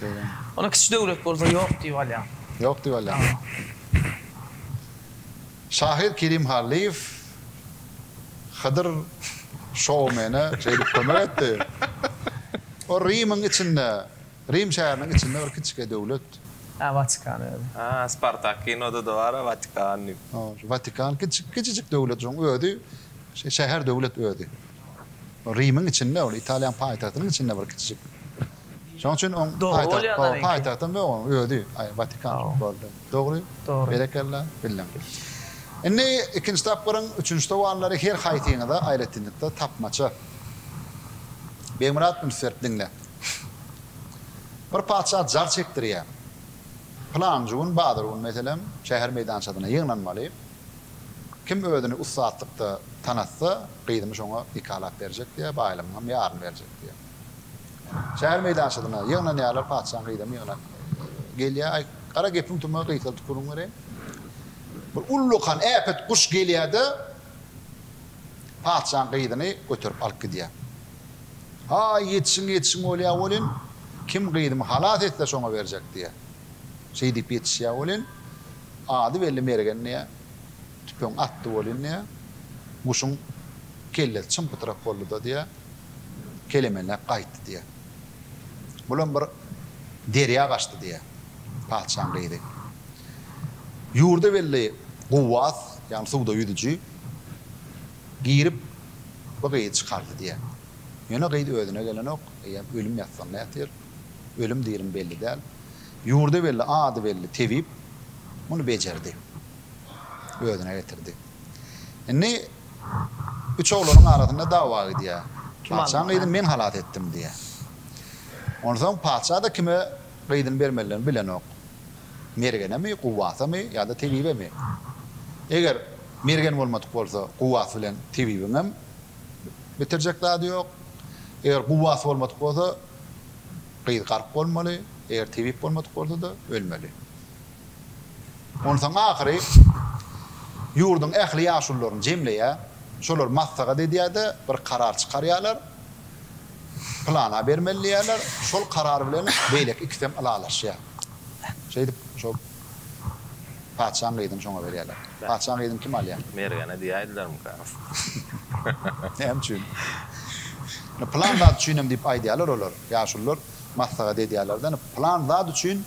Şeýdämi? Onda kiçi döwlet bolsa ýok diýip alýaň. Ýok diýip alýaň. Şahyr Kerim Hallyýew Hydyr şoumene şeýdip kömek etdi. O Rimiň içinde, Rim şäheriniň içinde bir kiçike döwlet. Hä, Watikan özi. Hä, Spartak kinoda-da bar-a Watikan diýip. Hä, şu Watikan kiçi, kiçijik döwlet şoň özi, şäher döwlet özi. Rimiň içinde ol, Italiýanyň paýtagtynyň içinde bir kiçijik. Şoň üçin oň paýtagtam ýok oň özi Watikan boldy. Dogry. Berekella. Bildim. Indi ikinji tapgyryň üçünji sowallary her haýsyňyza aýratynlykda tapmaça. Begmyrat üns berip diňle. Bir patyşa jar çekdirýär. Pylanjy gün bazar gün meselem şäher meýdançasyna ýygnanmaly. Kim özüni ussatlykda tanatsa gyzymy şoňa nikalap berjek diýýär, baýlygyňam ýaryny berjek diýýär. Şäher meýdançasyna ýygnanýarlar, patyşaň gyzam ýygnan gelýär. Aý, gara gepiň tümä gyýsaldyp gürrüň bereýin. Bir ullakan äpet guş gelýär-de, patyşaň gyzyny göterip alyp gidýär. Haý, ýetişiň, ýetişiň bolýar welin, kim gyzymy halas etse, şoňa berjek diýýär. Şeý diýip ýetişýär welin, ady belli mergen diýýär. Tüpeň atdy welin diýýär, guşuň kellesi çym-pytrak boldy-da diýýär. kelemenläp gaýtdy diýýär. Bulam bir derýa gaçdy diýýär patyşaň gyzy. Ýurda weli guwwas, ýagny suwda ýüzüji girip bu gyzy çykardy diýýär. Ýöne gyz özüne gelenok, eýýäm ölüm ýassygynda ýatyr. Ölüm dirim belli däl. Ýurda weli, ady belli tebip muny bejerdi. Özüne getirdi. Indi. Üç oglanyň arasynda dawa gidýär. Patyşaň gyzyny men halas etdim diýýär. Onsoň patyşa-da kime gyzyny bermelidigini bilenok. Mergenemi, Guwwasamy ýa-da Tebibemi? Eger Mergen bolmadyk bolsa, Guwwas bilen Tebibiňem bitirjek zady ýok. Eger Guwwas bolmadyk bolsa, gyz gark bolmaly, eger Tebip bolmadyk bolsa-da, ölmeli. Onsoň ahyry ýurduň ähli ýaşulularyny jemleýär. Şolar maslahat edýär-de, bir karar çykarýarlar. Pylana bermeli diýýärler. Şol karar bilen beýleki ikisem ylalaşýar. Şeýdip, şo patyşaň gyzyny şoňa berýärler. Patyşaň gyzyny kim alýar? Mergene diýäýdilermikä? Näme üçin? Pylan zat üçinem diýip aýdýarlar olar. Ýaşulular maslahat edýärler-de, Pylan zat üçin.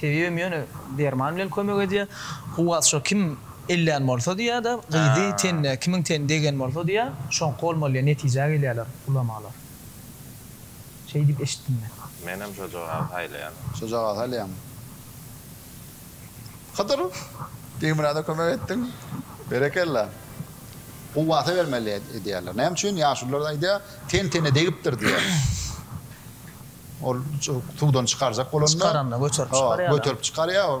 Tebiýem ýöne derman bilen kömek edýär. Kuwwat şo kim ellän bolsa diýýär-de, gyzy tenine kimiň teni degen bolsa diýýär, şoňky bolmaly diýen netijä gelýärler ulamalar. Şeý diýip eşitdim men. Menem şojagazy saýlaýan. Şojagazy saýlaýaňmy? Hydyr, Teýmurada kömek etdiň. Berekella. Kuwwata bermeli edýärler. Näme üçin? Ýaşulylar aýdýar, ten-tene degipdir diýýär. Ol suwdan çykarjak bolanda. Çykaranda göterip çykarýar. Göterip çykarýar.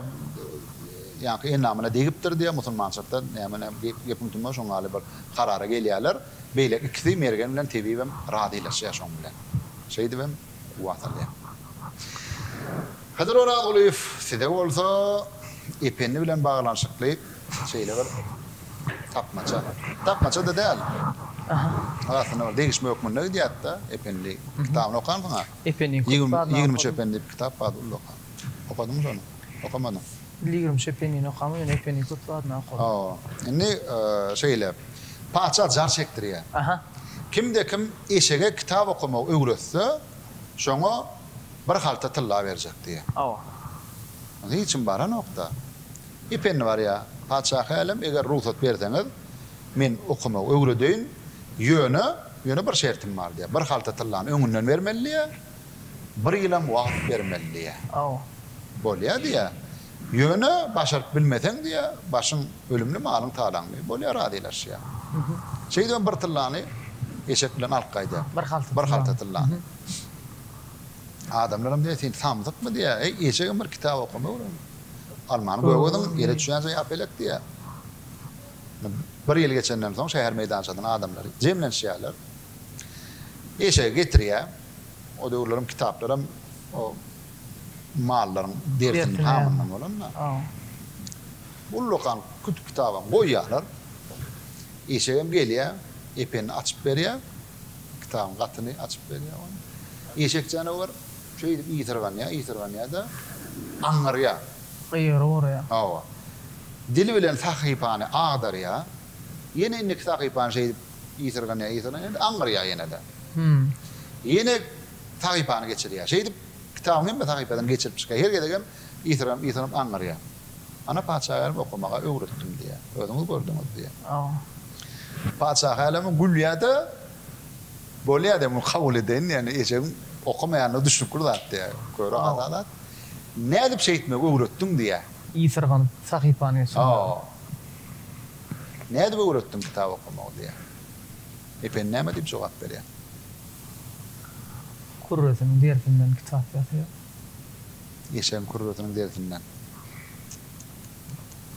Ýaňky endamyna degipdir diýýär. Musulmançylykda näme näme gepiň tümüni şoň ýaly bir karara gelýärler. Beýleki ikisi mergen bilen tebibem razylaşýar şoň bilen. Şeýdibem guba salýar. Hydyr Orazgulyýew size bolsa Ependi bilen baglanyşykly şeýle bir tapmaça. Tapmaça-da däl. Arasynda bir degişme hökmünde gidýärdi-de, Ependi kitabyny okansyň-a. Ependiň köp zadyny okadym. Ýigrimç Ependi diýip kitap bar, ol-da okan. Okadyňmy şony? Okamadyň. Ýigrimç Ependini okamam, ýöne Ependiň köp zadyny okadym. Hawa. Indi şeýle. Patyşa jar çekdirýär. Kimde-kim eşege kitap okamagy öwretse, şoňa bir halta tylla berjek diýýär. Hawa. Ony hiç kim baranok-da. Ependi barýa, Patyşahy älem, eger rugsat berseňiz, men okamagy öwredeýin, ýöne, ýöne bir şertim bar diýýär. Bir halta tyllany öňünden bermeli diýýär, bir ýylam wagt bermeli diýýär. Aw. Bolýar diýýär. Ýöne, başaryp bilmeseň diýýär, başyň ölümli, malyň talaňly. Bolýar, razylaşýar. Şeýdibem bir tyllany eşek bilen alyp gaýdýar. Bir halta tyllany. Bir halta tyllany. Adamlaram diýýär, sen samsykmy diýýär, eý, eşegem bir kitap okama öwren. Almany gögediň, ýere çüýänçä ýap elek diýýär. Bir ýyl geçenden soň şäher meýdançasyna adamlar jemlenişýärler. Eşegi getirýär. O döwürler hem kitaplar hem o mallaryň dertiniň hamyndan bolan-da. Ullakan kütük-kitap hem goýýarlar. Eşegem gelýär, Ependi açyp berýär. kitabyň gatyny açyp berýär oňa. Eşek janawer şeýdip ýysyrganýar, ýysyrganýar-da, aňňyrýar. Gyýygyry guraýar. Hawa. Dili bilen sahypany agdarýar. Ýene indiki sahypany şeýdip ýysyrganýar, ýysyrganýar-da, aňňyrýar ýene-de. Ýene sahypany geçirýär. Şeýdip, kitabyň hemme sahypasyny geçirip çykýar. Her gezegem ýysyrganyp, ýysyrganyp aňňyrýar. Ana paçaälem okamaga öwretdim diýýär. Özüňiz gördüňiz diýýär. Hawa. Paçaälem gülýär-de, Bolýar diýýär, muny kabul edeýin diýýär. Ejegiň okamaýandygy düşnükli zat diýýär. Köre aza zat. Nädip şeýtmegi öwretdiň diýýär. Ýysyrganyp sahypany geçirmegi. Hawa. Nädip öwretdiň kitap okamagy diýýär. Ependi näme diýip jogap berýär. Kürresiniň derisinden kitap ýasaýar. Eşegiň kürresiniň derisinden.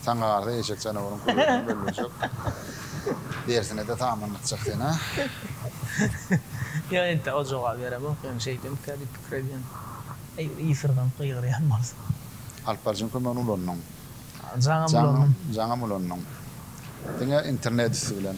Saňa galsa eşek janawaryň kürresinden bölünjek. Derisine-de tamamlatjak seni. Ýok entä o jogaby beremok ýöne şeýdemika diýip pikir edýän. Eger ýysyrganyp gygyrýan bolsa. Alyp baryjyň kömegini ulandyň. Jaňam ulandym. Jaňam ulandyň. Diňe internet üsti bilen.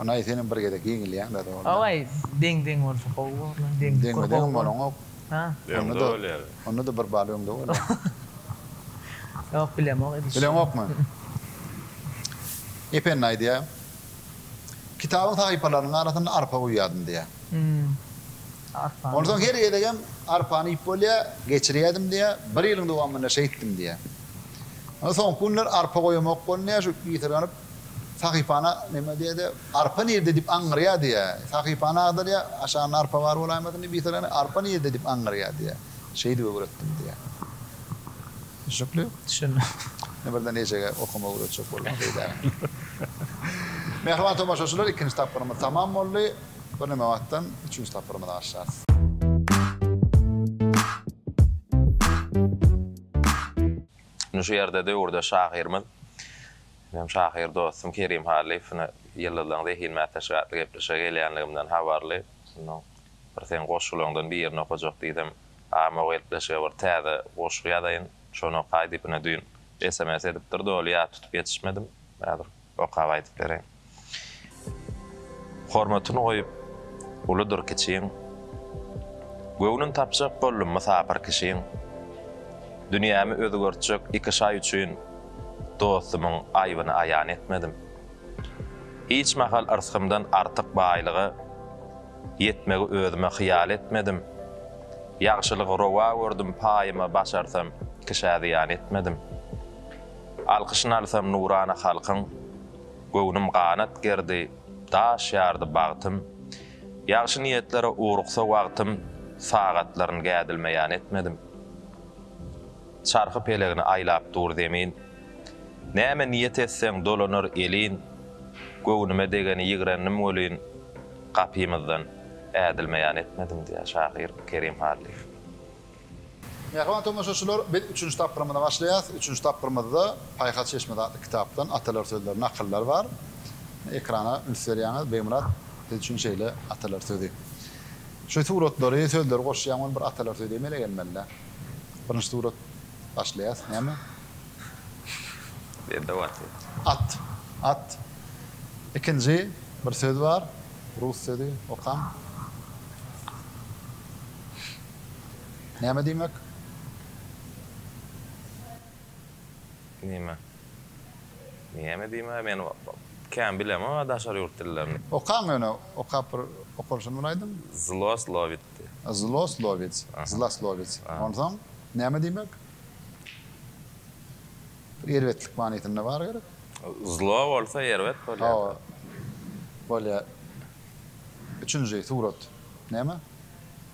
Onaý senem bir gezek ýeňilýäňdä zordan. Owaý deň deň bolsa gowy bor lan deň kur gowy bor. Deňme deňem bolaňok. Onda da bir bal öňde bolýar. Ýok bilemok edişini. Bileňokmy? Ependi aýdýar. Kitabyň sahypalarynyň arasynda arpa guýýardym diýýär. Hum. Arpany. Onsoň her gezegem arpany iýip bolýar, geçirýärdim diýýär. Bir ýylyň dowamynda şeýtdim diýýär. Soňky günler arpa goýamok boldum diýýär, şu ýitirigenip Sahypana neme diýdi? Arpa nirde diýip aňňyrýar diýýär. Sahypana agdarýar, aşagynda arpa bar bolaýmasyn diýip ýytyrany, arpa nirde diýip aňňyrýar diýýär. Şeýdip öwretdim diýýär. Düşnükli? Düşündim. Ine birden eýjege okamagy öwretjek boldum beýdägä. Mähriban tomaşaçylar, ikinji tapgyrymyz tamam boldy. Bir neme wagtdan üçünji tapgyrymyza başlarys. Ine şu ýerde döwürde şahyrymyz Menem şahyr dostum Kerim Hallyýew şuna Ýyldyzlaryň zehin mätäçligi atly gepleşige gelýänligimden habarly. Şonda bir seň goşgularyňdan birini okajak diýsem, Agam o gepleşige bir täze goşgy ýazaýyn, şony okaý diýip ine düýn sms edipdir, doly ýat tutup ýetişmedim. Häzir okap aýdyp bereýin. Hormatyny goýup, uludyr kiçiň, Göwnün tapjak boldum mysapyr kişiň. Dünýämi özgertjek iki şaý üçin, Dostumyň aýbyny aýan etmedim. Hiç mahal yrsgymdan artyk baýlyga, Ýetmegi özüme hyýal etmedim. Ýagşylygy rowa gördüm paýyma Başarsam, kişä zyýan etmedim. Alkyşyn alsam nurana halkyň, Göwnüm ganat gerdi, daş ýardy bagtym, Ýagşy niýetlere ugruksa wagtym, Sagatlaryn gädilme-ýan etmedim. Çarhy pelegini aýlap dur zemin, Näme niýet etseň dolanar elin, Göwnüme degeni ýigrendim welin, Gapymyzdan ädilme-ýan etmedim diýýär şahyr Kerim Hallyýew. Mähriban tomaşaçylar, biz üçünji tapgyrymyza başlaýas. Üçünji tapgyrymyzda Paýhas çeşmesi atly kitapdan atalar sözleri, nakyllar bar. Ekrana üns berýäňiz. Begmyrat, siz üçin şeýle atalar sözi. Şu suratlary, sözleri goşýan gün bir atalar sözi emele gelmelidä. Birinji surat başlaýas. Näme? Bende bar söz. At. At. Ikinji bir söz bar. Rus sözi. Okaň. Näme diýmek? Nime? Näme diýmek? Men kän bilemok a daşary ýurt dillerini. Okaň ýöne okap bir okalşyny bir aýdyň. Zloslowic diýip. Zloslowic, zloslowic. Onsoň näme diýmek? Bir erbetlik manysynda bar gerek. Zlo bolsa erbet bolýar. Hawa. Bolýar. Üçünji surat näme?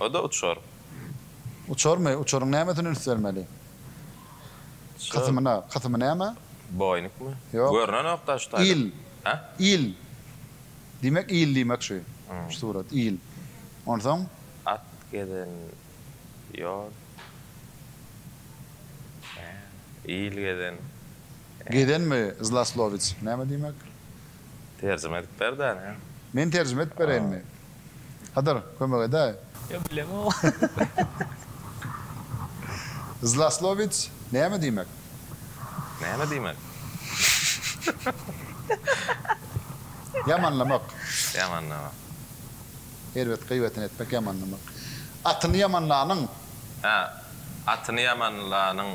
O-da uçar. Uçarmy? Uçaryň nämesine üns bermeli? Şu. Kysymyna. Kysymy näme? Boýnukmy? Ýok. Görnenok daş taýdan. Il. Hä? Il. Diýmek, il diýmek şu. Şu surat, il. Onsoň? At gezen ýol. Hä. Il gezen. Gezenmi? Zlaslowits. Näme diýmek? Terjime edip ber-dä, ine. Men terjime edip bereýinmi? Hydyr, kömek edäý. Ýok, bilemok. Zlaslowic näme diýmek? Näme diýmek? Ýamanlamak. Ýamanlamak. Erbet gyýbatyny etmek, ýamanlamak. Atyny ýamanlanyň. Hä, atyny ýamanlanyň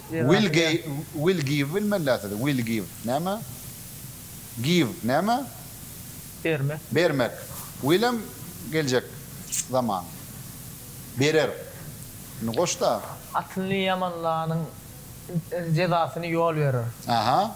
Will ge will give bilmella sizi will give näme give näme Bermek. bermek will hem geljek zaman berer indi goşda. Atyny ýamanlanyň jezasyny ýol berer. Aha.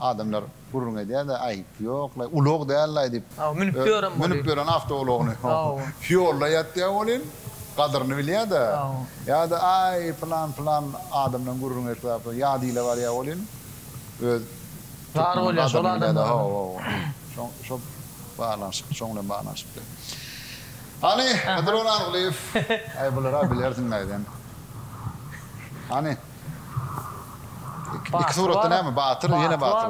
Adamlar gürrüň edýär-de, Aý, ýok-laý, ulag däl-laý diýip. Hawa, münüp ýörem bolýar. Münüp ýören awtoulagyny. Ýolda ýatýar welin, gadyryny bilýär-de. Ýa-da, Aý, pylan, pylan adamdan gürrüň et, ýat ile barýar welin, öz türkmeniň gadyryny bilýär-de. Hawa, şo baglanyşykly, şoň bilen baglanyşykly. Hany, Hydyr Orazgulyýew, aý, bular-a bilersiň-laý sen. Hany. Iki suratda näme batyr ýene batyr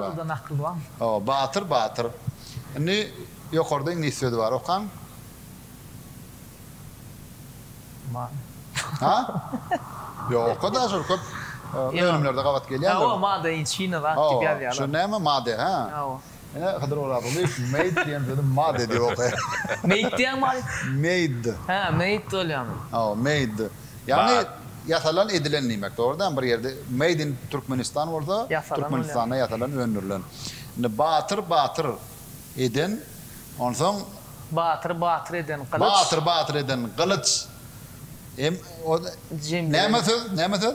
bar. Batyr batyr. Indi ýokarda iňlis sözi bar okaň. Ha? Ýok oka da şol köp önümlerde gabat gelýändir. Hawa made inçina zat diýip ýazýarlar. Şu näme made ha? Ine, Hydyr Orazgulyýew meýd diýen sözi made diýip okaýar. Meýt diýýäňmi aý? Meýd. Hä, meýd bolýamy? Hawa, meýd. Ýagny, ýasalan, edilen diýmek. Dogry däl, bir ýerde Made in Türkmenistan bolsa, Türkmenistanda ýasalan, öndürilen. Indi batyr, batyr eden, onsoň. Batyr, batyr eden gylyç. Batyr, batyr eden gylyç. Näme söz, näme söz?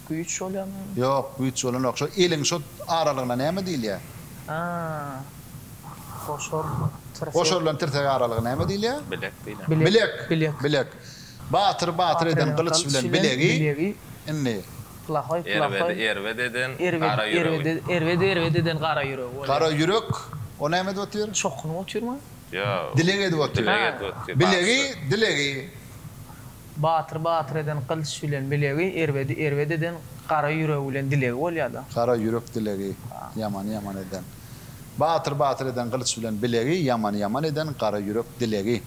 Güýç bolýamy? Ýok, güýç bolanok. Şo eliň şo aralygyna näme diýilýär? Ha. Goşor tirsek. Goşor bilen tirsek aralygy näme diýilýär? Bilek diýilýär. Bilek. Bilek. Bilek. Batyr batyr eden gylyç bilen bilegi. Indi. Plahoý plahoý. Erbedi erbet eden gara ýüregi. Erbedi erbet eden gara ýüregi bolýar. Gara ýürek. O näme edip otyr? Çokunyp otyrmy? Ýok. Dileg edip otyr. Dileg edip otyr. Bilegi dilegi. Batyr batyr eden gylyç bilen bilegi, erbedi erbet eden gara ýüregi bilen dilegi bolýar-da. Gara ýürek dilegi, ýamany ýaman eden. Batyr batyr eden gylyç bilen bilegi, ýamany ýaman eden gara ýürek dilegi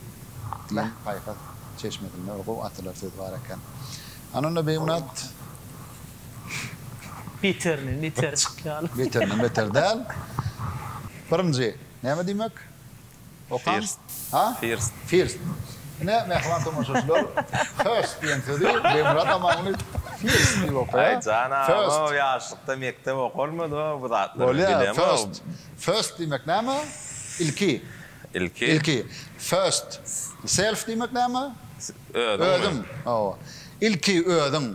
diýen paýhas çeşmesinde bir gowy atylar söz bar eken. Ana onda Beýunat. Beterinden beteri çykýar. Beterinden beter däl. Birinji näme diýmek? First. Ha? First. First. Ine, mähriban tomaşaçylar, first diýen sözi Begmyrat Amanly first diýip okaýar. Aý, janam, o ýaşlykda mekdep okalmady o bu zatlar. Bolýar, first. First diýmek näme? Ilki. Ilki. Ilki. First. Self diýmek näme? Özüň. Özüň. Hawa. Ilki özüň.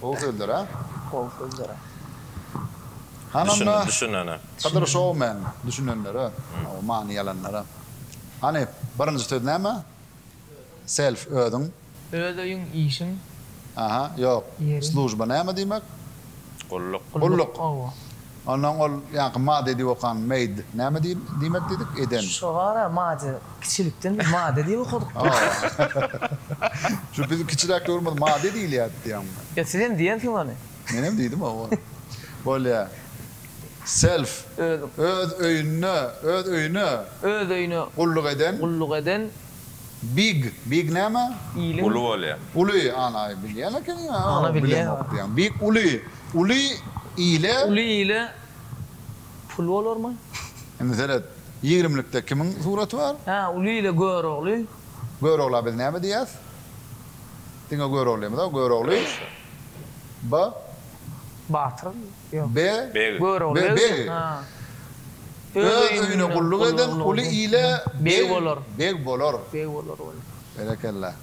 Gowy sözler a. Gowy sözler a. Hany onda düşünene. Hydyr show man düşünenlere o many ýalanlara. Hany birinji söz näme? Self özüň. Öz öýüň işiň. Aha ýok. Služba näme diýmek? Gulluk. Gulluk. Ondan ol ýaňky mady diýip okan made näme diýmek diýdik, eden. Şo bar-a mady, kiçilikden biz mady diýip okadyk. Şu biziň kiçiräk döwrümizde mady diýilýärdi diýýäňmi? Ýa siz hem diýensiňiz ony? Menem diýdim hawa. Bolýar. Self, öz öýünde, öz öýüne. Öz öýüne. Gulluk eden. Gulluk eden. Big, big näme? Iliň. Uly bolýar. Uly, ana, bilýän ekeniň, a, Ana, bilýän. bilemok diýýäň. Big, uly, uly ile. Uly ile pul bolarmy? Indi seret, ýigrimlikde kimiň suraty bar? Hä, uly ile Görogly. Görogla biz näme diýýäs? Diňe Göroglymyz-a, Görogly. Ba. Batyr. Be. Be. Beg. Öz öýüne gulluk eden uly ile beg, beg bolar. Berekella.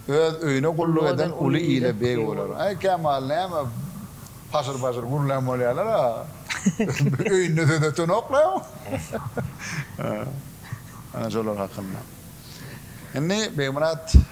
Öz öýüne gulluk eden uly ile beg bolar. Aý, Kemal, näme paşyr-paşyr gürlän bolýarlar-a? Öýünde söz ötenok-la. Ana şolar hakynda. Indi, Begmyrat.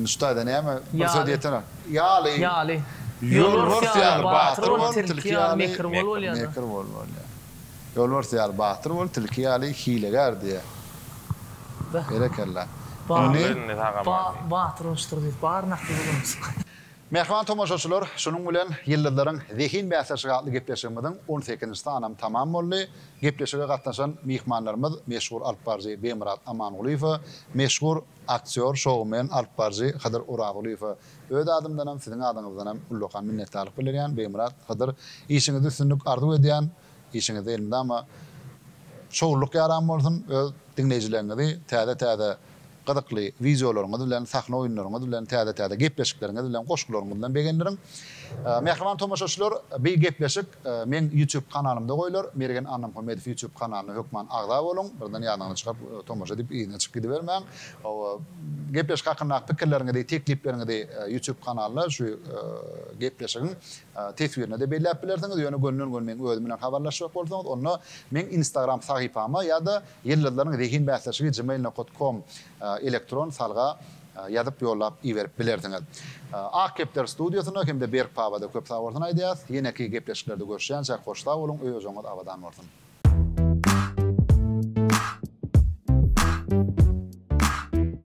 Nuştaýda näme? Bir söz diýsene. Ýaly. Ýaly. Ýolbars ýaly batyr bol, tilki ýaly mekir bol bolýar. Mekir bol bolýar. Ýolbars ýaly batyr bol, tilki ýaly hilegär diýýär. Berekella. Indi. Batyr boluşdyr diýip bar nakyl bolundy. Mähriban tomaşaçylar, şunuň bilen Ýyldyzlaryň zehin bäsleşigi atly gepleşigimiziň on sekizinji sanam tamam boldy. Gepleşige gatnaşan myhmanlarymyz meşhur alypbaryjy Begmyrat Amangulyýewe, meşhur. Aktýor, şoumen, alypbaryjy Hydyr Oragulyýewe öz adymdanam, siziň adyňyzdanam ullakan minnetdarlyk bildirýän. Begmyrat, Hydyr, işiňizde üstünlik arzuw edýän. Işiňizde elmydama şowlulyk ýaran bolsun. Öz diňleýjileriňizi täze-täze gyzykly wideolaryňyz bilen, sahna oýunlaryňyz bilen, täze-täze gepleşikleriňiz bilen, goşgularyňyz bilen begendiriň. Mähriban tomaşaçylar, bi gepleşik Meň YouTube kanalymda goýlar, Mergen Annamhamedow YouTube kanalyna hökman agza boluň, birden ýadyňyzdan çykar, tomaşa edip yzyna çykyp gidibermäň. Hawa, gepleşik hakyndaky pikirleriňizi, teklipleriňizi YouTube kanalynda şu gepleşigiň teswirinde-de belläp bilersiňiz, ýöne gönden-göni meň özüm bilen habarlaşjak bolsaňyz, onda meň Instagram sahypama ýa-da Ýyldyzlaryň zehin bäsleşigi gmail nokot kom elektron salga Ýazyp ýollap iberip bilersiňiz. Ak kepder studiýasyna hem-de Berk paba-da köp sag bolsun aýdýas. Ýeneki gepleşiklerde görüşýänçäk hoş sag boluň, öýojagyňyz abadan bolsun.